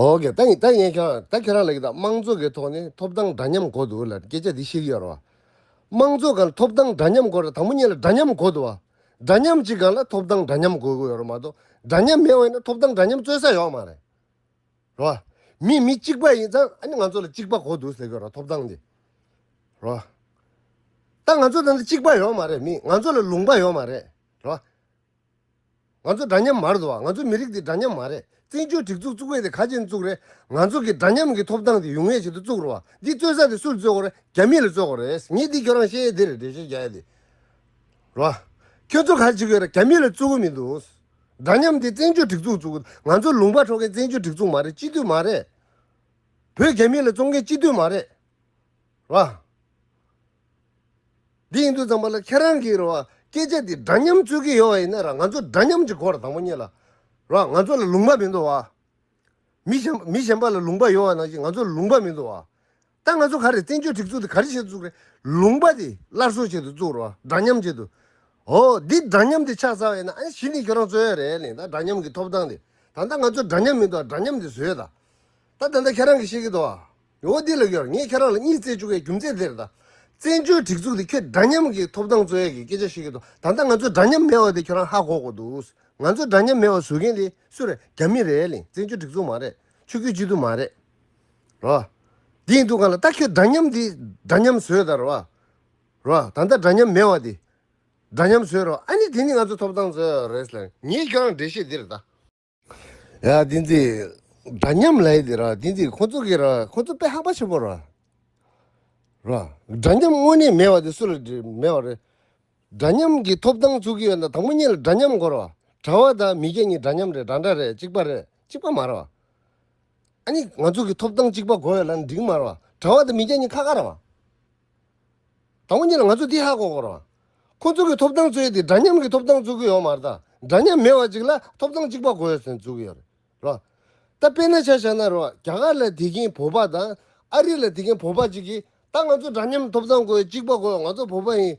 འོ་ཀེ་ད་ཡིན་ད་ཡིན་ཁྱོད་རང་ད་ཁྱོད་རང་ལ་ཡི་དྭགས་དམངས་གཙོ་གི་ཐོག་ནས་ཐོབ་ཐང་འདྲ་མཉམ་གོ་འདུག་ལ་སྐད་ཆ་འདི་ཤེས་ཀྱི་ཡོད་རེད་བ། དམངས་གཙོ་གང་ལ་ཐོབ་ཐང་འདྲ་མཉམ་གོ་རེད་དང་པོ་གཉིས་ལ་འདྲ་མཉམ་གོ་འདུག་བ། འདྲ་མཉམ་གཅིག་གང་ལ་ཐོབ་ཐང་འདྲ་མཉམ་གོ་གི་ཡོད་རེད་མ་གཏོགས་འདྲ་མཉམ་མེད་བ་ཡིན་ན་ཐོབ་ཐང་འདྲ་མཉམ་རྩོད་ས་ཡོད་མ་རེད། རེད་བ། མི་མི་གཅིག་པ་ཡིན་ཙང་ཨ་ནི་ང་ཚོ་ལ་གཅིག་པ་གོ་འདུག་ཟེར་གི་རེད་བ་ཐོབ་ཐང་འདི། རེད་བ། ད་ང་ཚོ་ད་ནི་གཅིག་པ་ཡོད་མ་རེད་མི་ང་ཚོ་ལ་ལུང་པ་ཡོད་མ་རེད། རེད་བ། ང་ཚོ་འདྲ་མཉམ་མ་རེད་བ། ང་ཚོ་མི་རིགས་འདི་འདྲ་མཉམ་མ་རེད། བཙན་བྱོལ་སྒྲིག་འཛུགས་བཙུགས་བས་དེ་ག་ཅན་བཙུགས་རེད། ང་ཚོ་གི་འདྲ་མཉམ་གི་ཐོབ་ཐང་དེ་ཡུན་ངེས་བྱེད་དུ་བཙུགས་རོགས། འདི་རྩོད་ས་དེ་སུ་ལ་རྩོད་དགོས་རེད། རྒྱ་མི་ལ་རྩོད་དགོས་རེད། ངས་འདི་ཁྱོད་རང་བཤད་ཡས་དེ་རེད་དྲན་བཤད་བྱ་ཡས་དེ་རོགས། ཁྱོད་ཚོ་ག་ལ་བྱེད་དགོས་རེད་རྒྱ་མི་ལ་རྩོད་དགོས་མི་འདུག། འདྲ་མཉམ་དེ་བཙན་བྱོལ་སྒྲིག་འཛུགས་བཙུགས། ང་ཚོ་ལུང་པ་འཕྲོག་མཁན་བཙན་བྱོལ་སྒྲིག་འཛུགས་མ་རེད་སྤྱི་འཐུས་མ་རེད། བོད་རྒྱ་མི་ལ་རྩོད་མཁན་སྤྱི་འཐུས་མ་རེད་རོགས། འདི་ཡིན་དུས་ཙམ་པ་ལ་ཁྱེད་རང་གིས་རེད་བ་སྐད་ཆ་འདི་འདྲ་མཉམ་རྩོད་ཀྱི་ཡོད་བ་ཡིན་ན་ར་ང་ཚོ་འདྲ་མཉམ་གྱི་སྐོར་དང་པོ་གཉིས་ལ་ར་ང་ཚོ་ལ་ལུང་པ་མི་འདུག་བ། མི་གཞན་མི་གཞན་པ་ལ་ལུང་པ་ཡོད་བ་ནང་བཞིན་ང་ཚོ་ལ་ལུང་པ་མི་འདུག་བ། ད་ང་ཚོ་ག་རེ་བཙན་བྱོལ་སྒྲིག་འཛུགས་འདི་ག་རེ་བྱེད་དུ་བཅུག་རེད་ལུང་པ་འདི་སླར་གསོ་བྱེད་དུ་བཅུག་རེད་བ་འདྲ་མཉམ་བྱེད་དུ། ཨོ་འདི་འདྲ་མཉམ་འདི་ཆགས་ཚར་བ་ཡིན་ན་ཨ་ཞི་འདི་ཁྱོད་རང་རྩོད་ཡ་རེད་ལེ་ད་འདྲ་མཉམ་གྱི་ཐོབ་ཐང་འདི་ད་ད་ང་ཚོ་འདྲ་མཉམ་མི་འདུག་བ་འདྲ་མཉམ་འདི་བཟོས་ད་ད་ད་ད་ཁྱེད་རང་གིས་ཤེས་ཀྱི་འདུག་བ། ངོ་བོ་འདི་ལ་ཡོད། ངས་ཁྱེད་རང་ལ་གཉིད་བརྩེ་བཅུག་པའི་རྒྱུ་མཚན་དེ་རེད། བཙན་བྱོལ་སྒྲིག་འཛུགས་དེ་ཁྱོད་འདྲ་མཉམ་གྱི་ཐོབ་ཐང་རྩོད་ཡས་ཀྱི་སྐད་ཆ་ཞིག་ཡིན་འདུག་ད་ལྟ་ང་ཚོ་འདྲ་མཉམ་མེད་བ་དེ་ཁྱོད་རང་ཧ་གོ་གོ་འདུག་ང་ཚོ་འདྲ་མཉམ་མེད་བ་བཟོ་མཁན་དེ་སུ་རེད་རྒྱ་མི་རེད་ལིང་བཙན་བྱོལ་སྒྲིག་འཛུགས་མ་རེད་ཆོས་རྒྱུད་སྤྱི་འཐུས་མ་རེད་རོ། དེ་ཡིན་འདུག་ག་ལ་ད་ཁྱོད་འདྲ་མཉམ་དེ་འདྲ་མཉམ་བཟོས་དར་བ་རོ་ད་ལྟ་འདྲ་མཉམ་མེད་བ་དེ་འདྲ་མཉམ་བཟོས་རོ་ཨ་ནི་དེ་ནི་ང་ཚོ་ཐོབ་ཐང་རྩོད་ཡས་རེད་ལིང། ངས་ཁྱོད་རང་འགྲེལ་བཤད་འདི་རེད། ཡང་དེ་འདྲ་འདྲ་མཉམ་ལས་དེ་ར་དེ་འདྲ་ཁོང་ཚོ་གི་ར་ཁོང་ཚོ་དཔེ་ཧ་པ་ཆེན་པོ་ར་ར་འདྲ་མཉམ་དངོས་གནས་མེད་པ་དེ་སུ་ལ་མེད་པ་རེད་འདྲ་མཉམ་གི་ཐོབ་ཐང་ཚུགས་ཀྱི་ཡོད་ན་དང་པོ་གཉིས་ལ་འདྲ་མཉམ་དགོས་ར་གྲྭ་བ་དང་མི་སྐྱ་གཉིས་འདྲ་མཉམ་རེད་འདྲ་འདྲ་རེད་གཅིག་པ་རེད་གཅིག་པ་མ་ར་བ་ཨ་ནི་ང་ཚོ་གི་ཐོབ་ཐང་གཅིག་པ་དགོས་ཡོད་ལ་འགྲིག་མ་ར་བ་གྲྭ་བ་དང་མི་སྐྱ་གཉིས་ཁ་ཁ་ར་བ། དང་པོ་གཉིས་ལ་ང་ཚོས་འདི་ཧ་གོ་དགོས། ཁོ་ཚོ་གི་ཐོབ་ཐང་རྩོད་དེ་འདྲ་མཉམ་གྱི་ཐོབ་ཐང་རྩོད་ཀྱི་ཡོད་མ་རེད། འདྲ་མཉམ་མེད་བ་ཅིག་ལ་ཐོབ་ཐང་གཅིག་པ་དགོས་ཟེར་འཛུགས་ཀྱི་ཡོད་རེད། ད་དཔེ་ན་ཆ་ཤར་ན་རེད། རྒྱ་གར་ལ་དེ་གིན་བོད་པ་དང་ཨ་རི་ལ་དེ་གིན་བོད་པ་ཅིག་གིས་ད་ང་ཚོ་འདྲ་མཉམ་ཐོབ་ཐང་དགོས་གཅིག་པ་དགོས་ང་ཚོ་བོད་པ་ཡིན།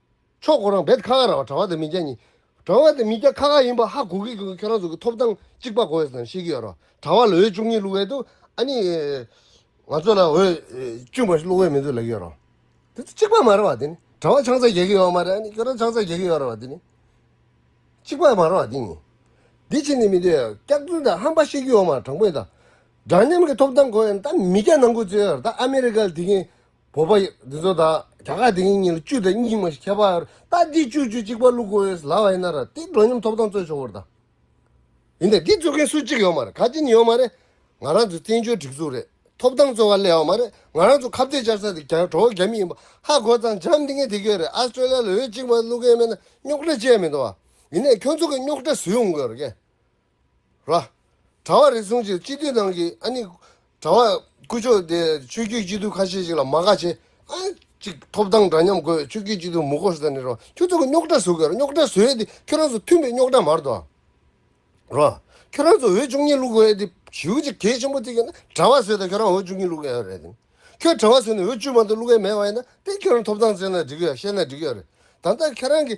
ཕྱོགས་གོ་རང་བེད་ཁ་ཁ་ར་བ་དྲ་བ་དང་མི་སྐྱ་གཉིས། དྲ་བ་དང་མི་སྐྱ་ཁ་ཁ་ཡིན་པ་ཧ་གོ་གི་གོ་གི་ཁྱོད་རང་ཚོ་གི་ཐོབ་ཐང་གཅིག་པ་གོ་ཡོད་ཙང་ཤེས་ཀྱི་ཡོད་རོ། དྲ་བ་ལོའི་བཅུ་གཉིས་བླུག་བས་འདུག་ཨ་ནི། ང་ཚོ་ལ་འོས། བཅུ་པ་ཞིག་བླུག་བས་མི་འདུག་ལབ་ཀྱི་ཡོད་རོ། དེ་ཚོ་གཅིག་པ་མ་རེད་བ་དེ་ནི། དྲ་བ་ཆང་ས་རྒྱག་གི་ཡོད་མ་རེད་ཨ་ནི་ཁྱོད་རང་ཆང་ས་རྒྱག་གི་ཡོད་རེད་བ་དེ་ནི། གཅིག་པ་མ་རེད་བ་དེ་ནི། དེ་ཕྱིར་ནི་མི་འདོད། སྐྱག་རྫུན་དང་ཧམ་པ་བཤད་ཀྱི་ཡོད་མ་རེད་དྲང་པོ་ཡིན་ད། འདྲ་མཉམ་གི་ཐོབ་ཐང་གོ་ཡོད་ད་མི་སྐྱ་ནང་ཁུལ་རྩོད་ཡོད་རེད་ད་ཨ་མི་རི་ཀ་ལ་དེ་གིན་བོད་པ་འདི་ཚོ་དག་རྒྱ་གར་དེ་གཉིས་གཉིས་ལ་བཅུ་དང་གཉིས་མ་ཞིག་ཁྱད་པར་ད་འདི་བཅུ་བཅུ་གཅིག་པ་བླུག་དགོས་ཡོད་ལབ་པ་ཡིན་ན་ར་འདི་འགྲོ་སྙོམས་ཐོབ་ཐང་རྩོད་ཆོག་གོ་ར་ད། ཡིན་ནའི་འདི་རྩོད་མཁན་སུ་གཅིག་ཡོད་མ་རེད་ག་ཅིག་ནི་ཡོད་མ་རེད། ང་རང་ཚོའི་བཙན་བྱོལ་སྒྲིག་འཛུགས་རེད་ཐོབ་ཐང་རྩོད་བ་ལས་ཡོད་མ་རེད་ང་རང་ཚོ་ཁ་བརྡའི་བཅར་ས་དེ་རྒྱ་གྲོ་བོ་རྒྱ་མི་ཡིན་པ་ཧ་གོ་ཙང་འཇམ་འདི་ངས་དེ་གྱོད་རེད Australia ལ་འོས་གཅིག་མ་བླུག་མཁན་མེད་ན་རྙོག་དྲ་བཅས་མི་འདུག་བ། ཡིན་ནའི་ཁྱོད་ཚོ་གི་རྙོག་དྲ་བཟོས་ཡོང་དགོས་ར་ཀྱེ། ར། གྲྭ་བ་རེ་ཟུང་ཅིག་སྤྱི་འཐུས་ནང་གི་ཨ་ནི། གྲྭ་བ་སྐུ་མཆོག་དེ་ཆོས་རྒྱུད་སྤྱི་འཐུས་ཁ་ཤས་ཤིག་ལ་མ་དགའ་ཆེ། ཨ། ཅིག་ཐོབ་ཐང་འདྲ་མཉམ་དགོས་ཆོས་རྒྱུད་སྤྱི་འཐུས་མུ་ཁོ་ས་ནས་རོ། ཁྱོད་ཚོ་གི་རྙོག་གྲ་བཟོ་གི་ར་རྙོག་གྲ་བཟོ་ཡས་དེ་ཁྱོད་རང་ཚོ་མཐུན་པའི་རྙོག་གྲ་མར་དོ། ར། ཁྱོད་རང་ཚོ་འོས་བཅུ་གཉིས་བླུག་དགོས་ཡས་དེ་བྱིའུ་ཅིག་གལ་ཆེན་པོ་རྩིས་ཀྱི་ན་གྲྭ་བ་བཟོས་ད་ཁྱོད་རང་འོས་བཅུ་གཉིས་བླུག་ཡས་རེད་དེ། ཁྱོད་གྲྭ་བ་བཟོས་ནས་འོས་བཅུ་མ་དོ་བླུག་ཡས་མེད་བ་ཡས་ན་དེ་ཁྱོད་རང་ཐོབ་ཐང་བཙལ་ན་འགྲིག་གི་ཡ་བཤད་ན་འགྲིག་གི་ཡ་རེད། ད་ལྟ་ཁྱེད་རང་གི།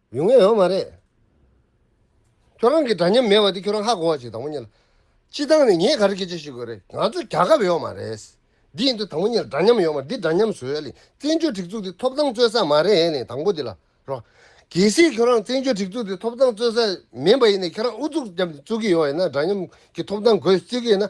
ཡོང་ངེས་ཡོད་མ་རེད། ཁྱོད་རང་གི་འདྲ་མཉམ་མེད་པ་དེ་ཁྱོད་རང་ཧ་གོ་བ་ཞིག་དང་པོ་གཉིས་ལ། སྤྱི་བཏང་ནས་ངས་ག་རེ་སྐད་ཆ་ཞུས་དགོས་རེད་ང་ཚོ་རྒྱ་ཁབ་ཡོད་མ་རེད། འདི་ཡིན་དུས་དང་པོ་གཉིས་ལ་འདྲ་མཉམ་ཡོད་མ་འདི་འདྲ་མཉམ་བཟོས་ལེ་བཙན་བྱོལ་སྒྲིག་འཛུགས་འདི་ཐོབ་ཐང་རྩོད་ས་མ་རེད་ལེ་དང་པོ་འདི་ལ་རོགས། གལ་སྲིད་ཁྱོད་རང་བཙན་བྱོལ་སྒྲིག་འཛུགས་འདི་ཐོབ་ཐང་རྩོད་ས་མིན་པ་ཡིན་ནས་ཁྱོད་རང་ཨུ་ཚུགས་བརྒྱབ་ནས་རྩོད་གི་ཡོད་ཡིན་ན་འདྲ་མཉམ་གྱི་ཐོབ་ཐང་དགོས་ཟེར་གི་ཡིན་ན།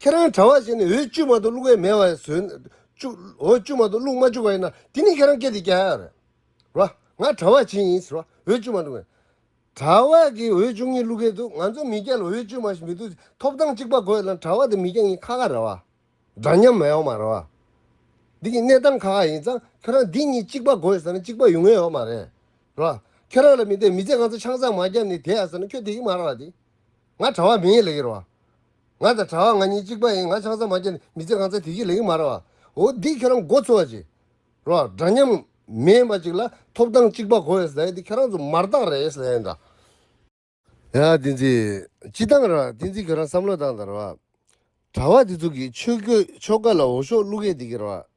ཁྱེད་རང་གྲྭ་བ་བྱས་ནས་འོས་བཅུ་མ་ཏུ་བླུག་བས་མེད་བ་ཟོས། བཅུ། འོས་བཅུ་མ་ཏུ་བླུག་མ་བཅུག་པ་ཡིན་ན་དེ་ནི་ཁྱེད་རང་སྐད་དེ་རྒྱ་ཡག་རེད། ར། ང་གྲྭ་བ་བྱས་ཡིན། ར། འོས་བཅུ་མ་ཏུ། གྲྭ་བ་གིས་འོས་བཅུ་གཉིས་བླུག་གལ་འདུག་ང་ཚོ་མི་སྐྱ་ལ་འོས་བཅུ་མ་ཞིག་མི་འདུག་ཐོབ་ཐང་གཅིག་པ་དགོས་ན་གྲྭ་བ་དང་མི་སྐྱ་གཉིས་ཁ་ཁ་རེད་བ། འདྲ་མཉམ་མ་ཡོང་མ་རེད་བ། འདི་གི་གནས་སྟངས་ཁ་ཁ་ཡིན་ཙང་ཁྱོད་རང་འདི་གཉིས་གཅིག་པ་དགོས་ཟེར་ན་གཅིག་པ་ཡོང་ངེས་ཡོད་མ་རེད། ར། ཁྱོད་རང་ལ་མི་དད་མི་ཚེ་ང་ཚོ་ཆང་བཟང་མ་བརྒྱབ་ནས་དེད་ཟེར་ན་ཁྱོད་དེ་གི་མ་རེད་བ། འདི་ང་གྲྭ་བ་མིན་ལེ་གི་རེད་བ། ང་དང་གྲྭ་བ་ང་གཉིས་གཅིག་པ་ཡིན་ང་ཆང་ཚ་མ་རྒྱབ་ནས་མི་ཚེ་གང་ཚར་དེ་བཞིན་ལེགས་མ་ར་བ། འོ་འདི་ཁྱེད་རང་མགོ་ཚོས་བ་ཅིག་རོགས་འདྲ་མཉམ་མེད་མ་ཅིག་ལ་ཐོབ་ཐང་གཅིག་པ་གོ་བས་ཟེར་འདི་ཁྱེད་རང་ཚོ་མར་བཏགས་རེད་ཟེར་ཡང་འདྲ། ཡ་བསྟན་འཛིན། སྤྱི་བཏང་ར་བསྟན་འཛིན་ཁྱེད་རང་བསམ་བློ་བཏང་དང་ར་བ། གྲྭ་བ་འདི་ཚོ་གིས་ཆོས་གོས་ཆོ་ག་ལ་འོ་ཤོག་བླུགས་མཁན་འདི་གིས་ར་བ།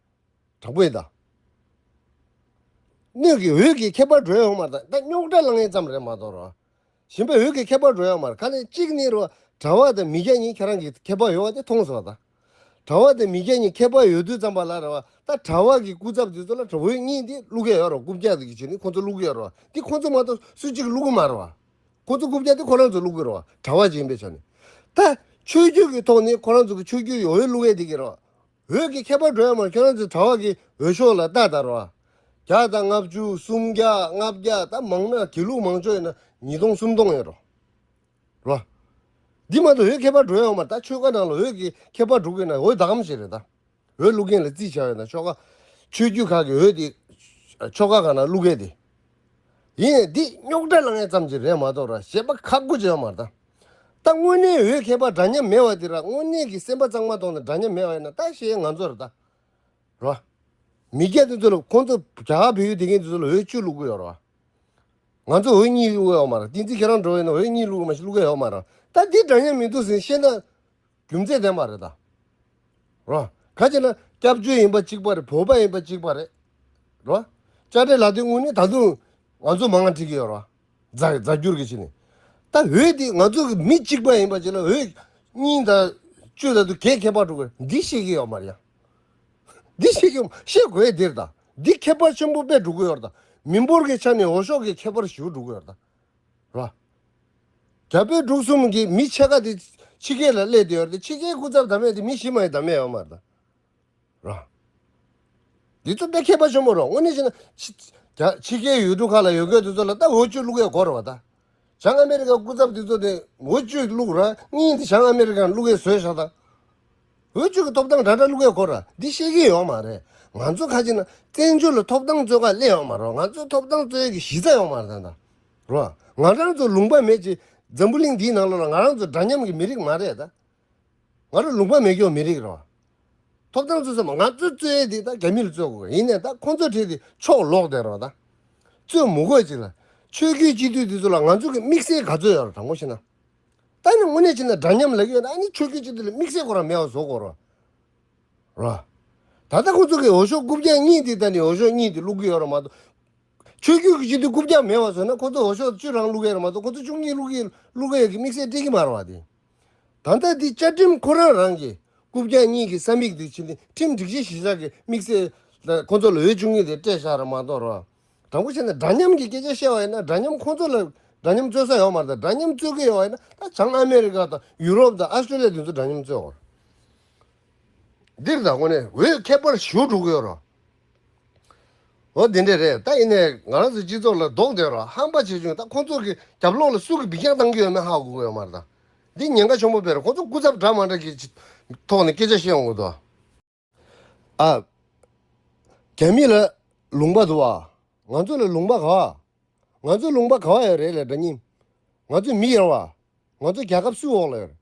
དྲག་པོའི་བརྡ། སྣོད་ཀྱི་འོད་ཀྱི་ཁྱད་པར་སྒྲོན་ཡང་མར་དང་རྟ་རྙོག་སྒྲ་ལ་ངེས་ཙམ་རེ་མ་གཏོགས་རོ། ཞེན་པའི་འོད་ཀྱི་ཁྱད་པར་སྒྲོན་ཡང་མར་ཁ་ནས་གཅིག་ནི་རོ། དྲ་བ་དང་མི་སྐྱ་གཉིས་ཁྱེད་རང་གི་ཁྱད་པར་ཡོད་བ་དེ་མཐོང་སོང་ད། དྲ་བ་དང་མི་སྐྱ་གཉིས་ཁྱད་པར་ཡོད་དུས་ཙམ་པ་ལ་རེ་བ་ད་དྲ་བ་གི་སྐུ་ཚབ་དེ་ཚོ་ལ་དྲ་བོའི་གཉིས་དེ་བླུག་གི་ཡོད་རོ་རྐུབ་བཀྱག་གི་ཆེད་ནི་ཁོང་ཚོ་བླུག་གི་ཡོད་རོ་དེ་ཁོང་ཚོ་མ་གཏོགས་སུ་གཅིག་བླུག་གི་མ་རེད་བ། ཁོང་ཚོ་རྐུབ་བཀྱག་དེ་ཁོ་རང་ཚོས་བླུག་གི་རོ་དྲ་བ་གཅིག་ཡིན་པའི་ཆ་ནས། ད། ཆོས་བརྒྱུད་ཀྱི་ཐོག་ནས་ཁོ་རང་ཚོ་གི་ཆོས་བརྒྱུད་ཀྱི་འོད་བླུག་ཡས་དེ་གི་རོ། འོད་ཀྱི་ཁྱད་པར་སྒྲོན་མར་ཁྱོད་རང་ཚོའི་གྲྭ་བ་གིས་འོད་ཤོག་ལ་རྟ་དར་བ། བརྒྱ་དང་ལྔ་བཅུ་སུམ་བརྒྱ་ལྔ་བརྒྱ་ད་མང་ན་དེ་ལུགས་མང་ཕྱོགས་ཡིན་ན་ཉིས་སྟོང་སུམ་སྟོང་ཡོད་རོ། རོ། འདི་མ་གཏོགས་འོད་ཁྱད་པར་སྒྲོན་ཡོང་མར་ད་ཆོལ་ཁ་ནང་ལ་འོད་ཀྱི་ཁྱད་པར་སྒྲོག་གིན་ན་འོད་བདག་མ་ཞིག་རེད་ད། འོད་བླུག་མཁན་ལ་རྩིས་བྱ་འོས་ན་ཆོལ་ཁ། ཆོས་རྒྱུད་ཁག་གི་འོད་དེ། ཆོལ་ཁ་ཁག་ནང་བླུག་མཁན་དེ། ཡིན་ཡང་འདིས་རྙོག་དྲ་ལངས་ཙམ་གྱི་རེད་མ་གཏོགས་ར་བྱེད་པ་ཁག་པོ་བྱེད་པ་མ་རེད། ད་དངོས་གནས་འོས་མཁས་པ་འདྲ་མཉམ་མེད་བ་འདི་ར་དངོས་གནས་ཀྱི་སེམས་པ་གཙང་མ་དོང་ནས་འདྲ་མཉམ་མེད་བ་ཡིན་ན་ད་ཞེས་ང་ཚོ་ར་ད་ར་མི་སྐྱ་འདི་ཚོ་ལ་ཁོང་ཚོ་རྒྱ་གར་བོད་ཡུལ་དེ་གའི་འདི་ཚོ་ལ་འོས་བཅུ་བླུག་གི་ཡོད་ར། ང་ཚོ་འོས་གཉིས་བླུག་གི་ཡོད་མ་ར་ཏིང་འཛིན་ཁྱེད་རང་འགྲོ་བ་ཡིན་ན་འོས་གཉིས་བླུག་གི་མ་བླུག་གི་ཡོད་མ་ར་ད་འདི་འདྲ་མཉམ་མི་འདུག་ཟེར་ཤེས་ན། རྒྱུ་མཚན་ལྡན་པ་རེད་ད་རོ། ག་ཅེ་ན་སྐྱབས་བཅོལ་ཡིན་པ་གཅིག་པ་རེད་བོད་པ་ཡིན་པ་གཅིག་པ་རེད་རོ། བཅའ་ཁྲིམས་ལག་དེབ་དངོས་ནི་ད་དུང་ང་ཚོ་མང་ང་བྲིས་ཀྱི་ཡོད་རོ། རྫ་རྫ་འགྱུར་གྱི་བྱས་ནས། ད་འོད་འདི་ང་ཚོ་གི་མི་གཅིག་པ་ཡིན་པ་བྱས་ན་འོད་གཉིས་ད་བཅོས་ད་དུ་གས་ཁྱད་པར་འགྲོ་གི་འདི་ཤེས་ཀྱི་ཡོད་མ་རེད་ཡ། འདི་ཤེས་ཀྱི་ཤེས་དགོས་ཡ་འདིར་ད་འདི་ཁྱད་པར་ཆེན་པོ་དཔེ་འགྲོ་གི་ཡོད་རེད་ད་མི་འབོར་གྱི་ཆ་ནས་འོ་ཤོག་གི་ཁྱད་པར་ཞུ་འགྲོ་གི་ཡོད་རེད་ད། ལ། རྒྱ་བོད་འབྲུག་གསུམ་གྱི་མི་ཕྱེད་ཀ་དེ་ཕྱི་རྒྱལ་ལ་སླེབས་ཏེ་ཡོད་རེད་ཕྱི་རྒྱལ་སྐུ་ཚབ་དམ་མེད་དེ་མི་གཞི་མ་ཡི་དམ་མེད་ཡོད་མ་རེད། ལ། འདི་ཚོ་དཔེ་མཁས་པ་ཆེན་པོ་རོགས་དངོས་གནས་བྱས་ན། རྒྱ་ཕྱི་རྒྱལ་ཡུལ་གྲུ་ཁག་ལ་ཡོད་མཁན་དེ་ཚོ་ལ་ད་འོ་བཅུད་བླུག་ཡས་གོ་རེད་བ་ད། བྱང་ཨ་མེ་རི་ཀ་སྐུ་ཚབ་དེ་ཚོ་དེ་འོ་བཅུད་བླུག་ར་གཉིས་དེ་བྱང་ཨ་མེ་རི་ཀ་ལ་བླུག་ཡས་བཟོས་ཤག་ད། འོས་བསྡུ་གི་ཐོབ་ཐང་དྲ་གྲ་ལུག་གའི་སྐོར་འདི་བཤད་ཀྱི་ཡོག་མ་རེད་ང་ཚོ་ཁ་ཆེ་ན་བཙན་བྱོལ་ལ་ཐོབ་ཐང་རྩོད་ཁ་གླེང་ཡོག་མ་རོག་ང་ཚོ་ཐོབ་ཐང་རྩོད་ཡོད་གི་གཞི་རྩ་ཡོག་མ་རེད་ད་རོག་ང་རང་ཚོ་ལུང་པ་མེད་ཀྱི་འཛམ་བུ་གླིང་འདིའི་ནང་ལོག་ལ་ང་རང་ཚོ་འདྲ་མཉམ་གི་མི་རིགས་མ་རེད་ད་ང་རོ་ལུང་པ་མེད་སྐྱོང་མི་རིགས་རོག་ཐོབ་ཐང་རྩོད་ས་མ་ང་ཚོ་རྩོད་ཡོད་དེ་ད་རྒྱ་མི་ལ་རྩོད་དགོ་གི་ཡིན་ནས་ད་ཁོང་ཚོ་ཁྲེལ་དེ་ཕྱོག་ལོག་དེ་རོག་ད་རྩོད་མུ་དགོས་ཅིག་ལ་ཆོས་རྒྱུད་སྤྱི་འཐུས་དེ་ཚོ་ལ་ང་ཚོ་གི་དམིགས་བསལ་ག་ཚོད་ཡོག་རོ་དྲང་པོ་བཤད་ན། ད་ནི་དངོས་གནས་ཅི་ན་འདྲ་མཉམ་ལ་གཡོལ་ན་ཨ་ནི་ཆོས་སྐྱོན་ཅི་འདི་ལ་དམིགས་བསལ་སྐོར་རམ་མེད་བ་བཟོ་དགོས་རོགས། ད་ལྟ་ཁོ་ཚོ་གིས་འོ་ཞོ་རྐུབ་བཀྱག་གཉིས་འདི་ད་ནི་འོ་ཞོ་གཉིས་འདི་བླུག་གི་ཡོད་ར་མ་གཏོགས། ཆོས་སྐྱོན་གྱི་ཅི་འདི་རྐུབ་བཀྱག་མེད་བ་བཟོ་ན་ཁོ་ཚོ་འོ་ཞོ་བཅུ་རང་བླུག་གི་ཡོད་ར་མ་གཏོགས་ཁོ་ཚོ་བཅུ་གཉིས་བླུག་གི་བླུག་གི་ཡོད་ཀྱི་དམིགས་བསལ་སྤྲད་ཀྱི་མ་ར་བ་དེ། ད་ལྟ་འདི་བཅའ་ཁྲིམས་ཁོ་རང་རང་གིས་རྐུབ་བཀྱག་གཉིས་ཀྱི་ས་མིག་འདི་ཕྱི་འདི་ཁྲིམས་སྒྲིག་གཞི་གཞིར་བཞག་གི་དམིགས་བསལ། ཁོ་ཚོ་ལ་འོས་བཅུ་གཉིས་འདི་སྤྲད་བཞག་ར་མ་གཏོགས་རོགས། དང་པོ་ཆེ་ན་འདྲ་མཉམ་གྱི་སྐད་ཆ་བཤད་པ་ཡིན་ན་འདྲ་མཉམ་ཁོང་ཚོ་ལ་འདྲ་མཉམ་རྩོད་ས་ཡོད་མ་རེད་དམ་འདྲ་མཉམ་རྩོད་ཀྱི་ཡོད་པ་ཡིན་ན་ད་བྱང་ཨ་མེ་རི་ཀ་དང་ཡུ་རོབ་དང་ཨ་སི་ཏྲེ་ལི་ཡ་དེ་ཚོ་འདྲ་མཉམ་རྩོད་དགོས་རེད། འདིར་ད་གོ་ནས་འོས་ཁེ་པར་བཞུགས་འགྲོ་གི་ཡོད་རོ། འོ་དེ་འདྲས་རེད་ད་ཡིན་ནས་ང་རང་ཚོའི་སྤྱི་ཚོགས་ལ་རྡོག་འདོད་རོགས་ཧམ་པ་བྱེད་བྱུང་ད་ཁོང་ཚོ་གི་རྒྱབ་ལོགས་ལ་སུ་གི་འབིག་རྒྱག་གཏང་གི་ཡོད་མེད་ཧ་གོ་གི་ཡོད་མ་རེད་དམ་འདི་ཉེན་ཁ་ཆེན་པོ་བེད་རེད་ཁོང་ཚོ་སྐུ་ཚབ་འདྲ་མ་འདྲ་གི་ཐོག་ནས་སྐད་ཆ་བཤད་འོང་གི་འདུག། ཨ། རྒྱ་མི་ལ་ལུང་པ་དུ་བ། ང་ཚོ་ལ་ལུང་པ་ག་བ། ང་ཚོ་ལུང་པ་ག་བ་ཡང་རེད་ལ་དགྲ་གཉེན། ང་ཚོ་མི་ཡར་བ། ང་ཚོ་རྒྱལ་ཁབ་སུའི་འོག་ལ་ཡོད།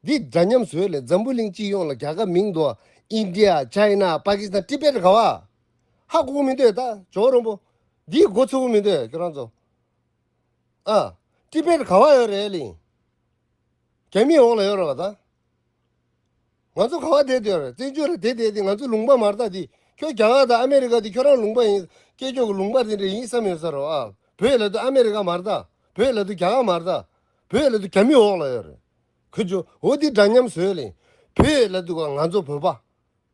འདི་འདྲ་མཉམ་བཟོས་ལས་འཛམ་བུ་གླིང་སྤྱི་ཡོངས་ལ་རྒྱལ་ཁབ་མིང་དུ་བ། India China Pakistan Tibet ག་བ། ཧ་གོ་མི་འདོད་ད་ཇོ་རོན་པོ། འདིའི་མགོ་འཚོ་བོ་མི་འདོད་ཁྱོད་རང་ཚོ། ཨ། Tibet ག་བ་ཡང་རེད་ལིང། རྒྱ་མིའི་འོག་ལ་ཡོད་ར་བ་ད། ང་ཚོ་གང་བ་དེ་དེར་བཙན་བྱོལ་ལ་དེ་བསྡད་དེ་ང་ཚོའི་ལུང་པ་མར་བཏགས་དེ་ཁྱོད་རྒྱ་ནག་དང་ཨ་མེ་རི་ཁ་དེ་ཁྱོད་རང་ལུང་པ་ཡིན་སྐད་ཁྱོད་ཀྱི་ལུང་པ་དེ་འདྲ་ཡིན་བསམ་ཡོད་ས་རེད་ཨ་བོད་ལ་དུ་ཨ་མེ་རི་ཁ་མར་བཏགས་བོད་ལ་དུ་རྒྱ་ནག་མར་བཏགས་བོད་ལ་དུ་རྒྱ་མི་འོག་ལ་ཡོད་རེད་ཁུ་ཇོ་འོ་དེ་འདྲ་མཉམ་བཟོས་ལེ་བོད་ལ་དུ་ག་ང་ཚོ་བོད་པ།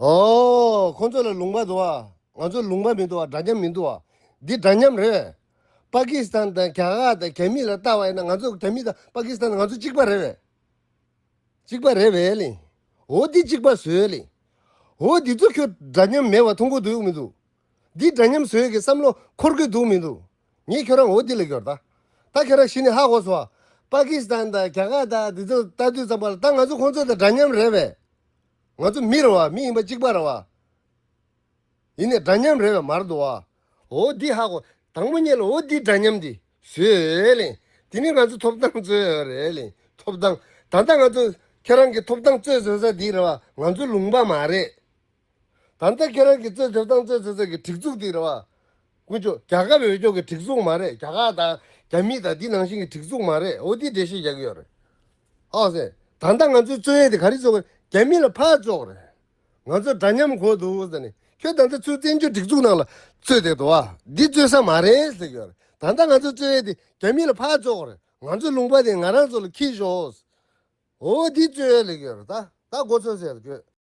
ཨོའོ། ཁོང་ཚོ་ལ་ལུང་པ་འདུག་ཨ། ང་ཚོ་ལུང་པ་མི་འདུག་ཨ་འདྲ་མཉམ་མི་འདུག་ཨ། འདི་འདྲ་མཉམ་རེད། པ་ཀི་སི་ཐན་དང་གྷ་ཧ་དང་གྷ་མི་ལ་ལྟ་བ་ཡིན་ན་ང་ཚོ་གྷ་མི་དང་པ་ཀི་སི་ཐན་ང་ཚོ་གཅིག་པ་རེད་བས། གཅིག་པ་རེད་བས་ལི། ཨོ་འདི་གཅིག་པ་བཟོས་ལི། ཨོའོ་འདི་ཚོ་ཁྱོད་འདྲ་མཉམ་མེད་བ་མཐོང་གི་འདུག་མི་འདུག། འདི་འདྲ་མཉམ་བཟོས་གི་བསམ་བློ་འཁོར་གི་འདུག་མི་འདུག། ངས་ཁྱོད་རང་ཨོ་འདི་ལ་སྐྱོར་ད། ད་ཁྱོད་རང་གཞི་ནས་ཧ་གོ་སོང་ཨ། པ་ཀི་སི་ཐན་དང་གྷ་ཧ་དང་འདི་ཚོ་ལྟ་དུས་ཙམ་པ་ལ་ད་ང་ཚོ་ཁོང་ཚོ་དང་འདྲ་མཉམ་རེད་བས། ང་ཚོ་མི་རེ་བ་མི་ཡིན་པ་གཅིག་པ་རེ་བ། ཡིན་ནས་འདྲ་མཉམ་རེ་བའི་མར་འདུ་བ། འོ་འདི་ཧ་གོ། དང་པོ་རྙེད་ལ་འོ་འདི་འདྲ་མཉམ་འདི་བཟོས་ལེ། དེ་ནི་ང་ཚོ་ཐོབ་ཐང་རྩོད་རེ་ལེ། ཐོབ་ཐང། ད་ལྟ་ང་ཚོ་ཁྱེད་རང་གི་ཐོབ་ཐང་རྩོད་བཟོས་ས་འདི་རེ་བ་ང་ཚོ་ལུང་པ་མ་རེད། ད་ལྟ་ཁྱེད་རང་གི་རྩོད་ཐོབ་ཐང་རྩོད་བཟོས་ས་གི་སྒྲིག་འཛུགས་འདི་རེ་བ། ཀུན་ཅོ། རྒྱ་ཁབ་འོས་སྐྱོང་གི་སྒྲིག་འཛུགས་མ་རེད་རྒྱ་ཁག་དང་རྒྱ་མི་དང་འདི་ནང་བཞིན་གྱི་སྒྲིག་འཛུགས་མ་རེད་འོ་འདི་འགྲེལ་བཤད་རྒྱག་གི་ཡོད་རེད། ཨོ་སི། ད་ལྟ་ང་ཚོའི་རྩོད་ཡས་དེ་ག་རེ་བྱུང། རྒྱ་མི་ལ་ཕར་ལྕོག་རེད། ང་ཚོ་འདྲ་མཉམ་གོ་འདུག་ཟེར་ནས། ཁྱོད་ད་ལྟ་ཚུར་བཙན་བྱོལ་སྒྲིག་འཛུགས་ནང་ལ་རྩོད་བསྡད་འདུག་ཨ། འདི་རྩོད་ས་མ་རེད་ཟེར་གྱི་ཡོད་རེད། ད་ལྟ་ང་ཚོའི་རྩོད་ཡས་དེ་རྒྱ་མི་ལ་ཕར་ལྕོག་རེད། ང་ཚོའི་ལུང་པ་དེ་ང་རང་ཚོ་ལ་འཁྱིལ་ཞོག། འོ་འདི་རྩོད་ཡས་ལས་ཀྱི་ཡོད་རེད་ད། ད་འགོ་ཚོས་ཟེར་ཡས་ལ་བསྐྱོད།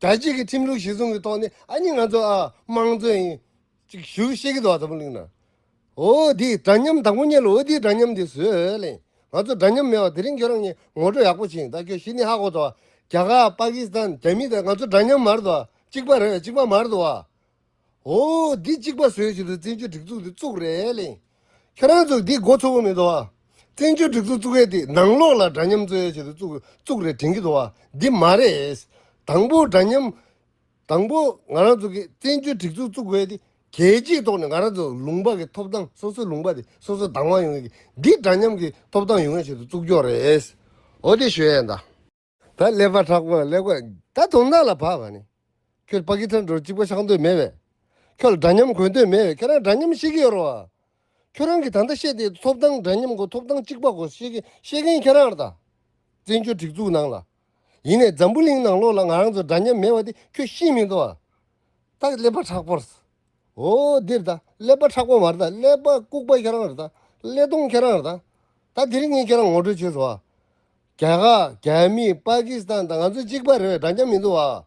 དྲ་རྒྱའི་གི་ཁྲིམས་ལུགས་གཞི་བཟུང་གི་ཐོག་ནས་ཨ་ཉི་ང་ཚོ་ཨ་དམངས་གཙོ་ཡིན་ཅིག་ཞུ་ཤེས་གི་འདུག་ཨ་ཚ་པོ་ལིང་ན་འོ་དེ་འདྲ་མཉམ་དང་པོ་གཉེར་ལོ་འོ་དེའི་འདྲ་མཉམ་དེ་བཟོས་ལེ་ང་ཚོ་འདྲ་མཉམ་མེད་བ་དེ་རིང་ཁྱོད་རང་གཉིས་ངོ་སྤྲོད་ཡག་པོ་བྱིན་ད་ཁྱོད་ཤི་ནི་ཧ་གོ་ཏོ་རྒྱ་གར་པ་ཀི་སི་ཐན་རྒྱ་མི་དང་ང་ཚོ་འདྲ་མཉམ་མར་འདུག་ཨ་གཅིག་པ་རེད་གཅིག་པ་མར་འདུག་ཨ། འོ། འདི་གཅིག་པ་བཟོས་བཞིན་དུ་བཙན་བྱོལ་སྒྲིག་འཛུགས་འདི་བཙུགས་རེད་གླེང། ཁྱོད་རང་ཚོ་འདི་མགོ་ཚོ་བོ་མི་འདུག་བ། བཙན་བྱོལ་སྒྲིག་འཛུགས་བཙུགས་ཡས་དེ་ནང་ལོགས་ལ་འདྲ་མཉམ་བརྩོད་ཡས་བྱེད་དུ་བཙུགས་བཙུགས་རེད་དྲན་གྱི་འདུག་བ། འདི་མ་རེད། དང་པོ་འདྲ་མཉམ། དང་པོ་ང་རང་ཚོ་གིས་བཙན་བྱོལ་སྒྲིག་འཛུགས་བཙུགས་ཡས་དེ་གལ་ཆེའི་ཐོག་ནས་ང་རང་ཚོ་ལུང་པ་གི་ཐོབ་ཐང་སོ་སོའི་ལུང་པ་དེ་སོ་སོ་དང་བ་ཡོང་ཡས་ཀྱི་འདི་འདྲ་མཉམ་གྱི་ཐོབ་ཐང་ཡོང་ཡས་བྱེད་དུ་བཙུགས་རྒྱུ་རེད། འོ་དེ་ཞུ་ཡས་འདའ། ད་ཀླད་པ་ཁྲག་དཔག་ཀླད་ཀོས་ད་དུང་རྣག་ལ་བབས་བ་ནི། ཁྱོད་པ་ཀི་ཐང་འགྲོ་གཅིག་པ་ཤག་འདོད་མེད་བས། ཁྱོད་ལ་འདྲ་མཉམ་གོན་འདོད་མེད་བས་ཁྱོད་རང་འདྲ་མཉམ་བཤད་ཀི་ཡོད་རོ། ཁྱོད་རང་གི་ད་ལྟ་ཤེས་དེ་ཐོབ་ཐང་འདྲ་མཉམ་གོ་ཐོབ་ཐང་གཅིག་པ་གོ་ཤེས་མཁན་ཁྱོད་རང་ར་ད། བཙན་བྱོལ་སྒྲིག་འཛུགས་ནང་ལ། ཡིན་ནས་འཛམ་བུ་གླིང་ནང་ལོགས་ལ་ང་རང་ཚོ་འདྲ་མཉམ་མེད་བ་དེ་ཁྱོད་ཤེས་མི་འདུག་ཨ། ད་ཀླད་པ་ཁྲག་པོར། ཨོ་འདིར་ད་ཀླད་པ་ཁྲག་པོ་མ་ར་ད་ཀླད་པ་ལྐུགས་པ་ཁྱོད་རང་ར་ད་ཀླད་སྟོང་ཁྱོད་རང་ར་ད། ད་དེ་རིང་ངས་ཁྱོད་རང་ངོ་སྤྲོད་བྱེད་རོགས་ཨ། རྒྱ་གར་རྒྱ་མི་པཱ་ཀི་སི་ཐན་དང་ང་ཚོ་གཅིག་པ་རེད་འདྲ་མཉམ་མི་འདུག་བ།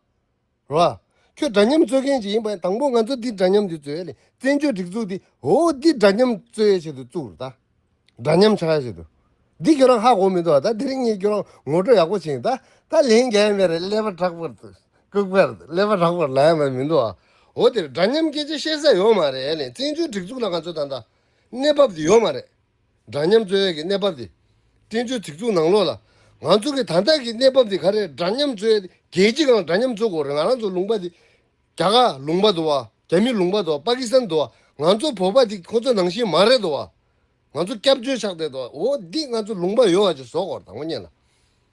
རོ། ཁྱོད་འདྲ་མཉམ་རྩོད་མཁན་ཞིག་ཡིན་པས་དང་པོ་ང་ཚོ་འདི་འདྲ་མཉམ་འདི་རྩོད་ཡ་ལེ་བཙན་བྱོལ་སྒྲིག་འཛུགས་འདི་འོ་འདི་འདྲ་མཉམ་རྩོད་ཡ་བྱེད་དུ་བཅུག་རོ་ད། འདྲ་མཉམ་ཆགས་ཡ་བྱེད་དུ། འདི་ཁྱོད་རང་ཧ་གོ་མི་འདུག་བ་ད་འདི་རིགས་གཉིས་ཁྱོད་རང་ངོ་སྤྲོད་ཡག་པོ་བྱིངས་ད་ད་ལན་རྒྱ་ཡན་པའི་རེད་ཀླད་པ་དྲག་པར་ལྟུག་པས་རེད་ཀླད་པ་དྲག་པར་ལ་ཡང་བ་མི་འདུག་བ། འོ་དེ་འདྲ་མཉམ་སྐད་ཆ་བཤད་ས་ཡོད་མ་རེད་ཡ་ལེ་བཙན་བྱོལ་སྒྲིག་འཛུགས་ལ་ང་ཚོ་ད་ད་གནས་བབ་འདི་ཡོད་མ་རེད། འདྲ་མཉམ་འཚོལ་བའི་གི་གནས་བབ་དེ། བཙན་བྱོལ་སྒྲིག་འཛུགས་ནང་ལོགས་ལ། ང་ཚོ་གི་ད་ལྟ་གི་གནས་བབ་དེ་ག་རེད་འདྲ་མཉམ་འཚོལ་བའི་དེ། རྒྱལ་སྤྱི་གང་འདྲ་མཉམ་འཚོལ་དགོས་རེད་ང་རང་ཚོ་ལུང་པ་དེ། རྒྱ་གར་ལུང་པ་དོ་བ། རྒྱ་མི་ལུང་པ་དོ་བ་པ་ཀི་སི་ཐན་དོ་བ། ང་ཚོ་བོད་པ་དེ་ཁོ་ཚོ་ནང་བཞིན་མ་རེད་དོ་བ། ང་ཚོ་སྐྱབས་བཅོལ་ཆགས་བསྡད་དོ་བ་འོ་འདི་ང་ཚོ་ལུང་པ་ཡོད་བ་ཅིག་བཟོ་དགོས་རེད་དང་པོ་གཉིས་ལ།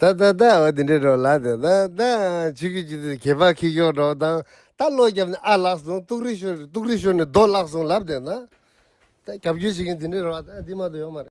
ད་ད་ད་འོ་དེ་འདྲའི་འགྲོ་ལགས་དེ་ད་ད་ཇི་གི་ཇི་དེ་གད་པ་ཁི་ཤོར་འགྲོ་དང་ད་བློ་རྒྱབ་ནས་ཨ་ལགས་སོང་ཏུག་རི་ཤོར་ཏུག་རི་ཤོར་ནས་རྡོ་བརླག་སོང་ལབ་དེ་ན་ད་རྒྱབ་སྐྱོར་བྱེད་མཁན་དེ་འདྲའི་རོ་ཨ་ད་འདི་མ་གཏོགས་ཡོད་མ་རེད།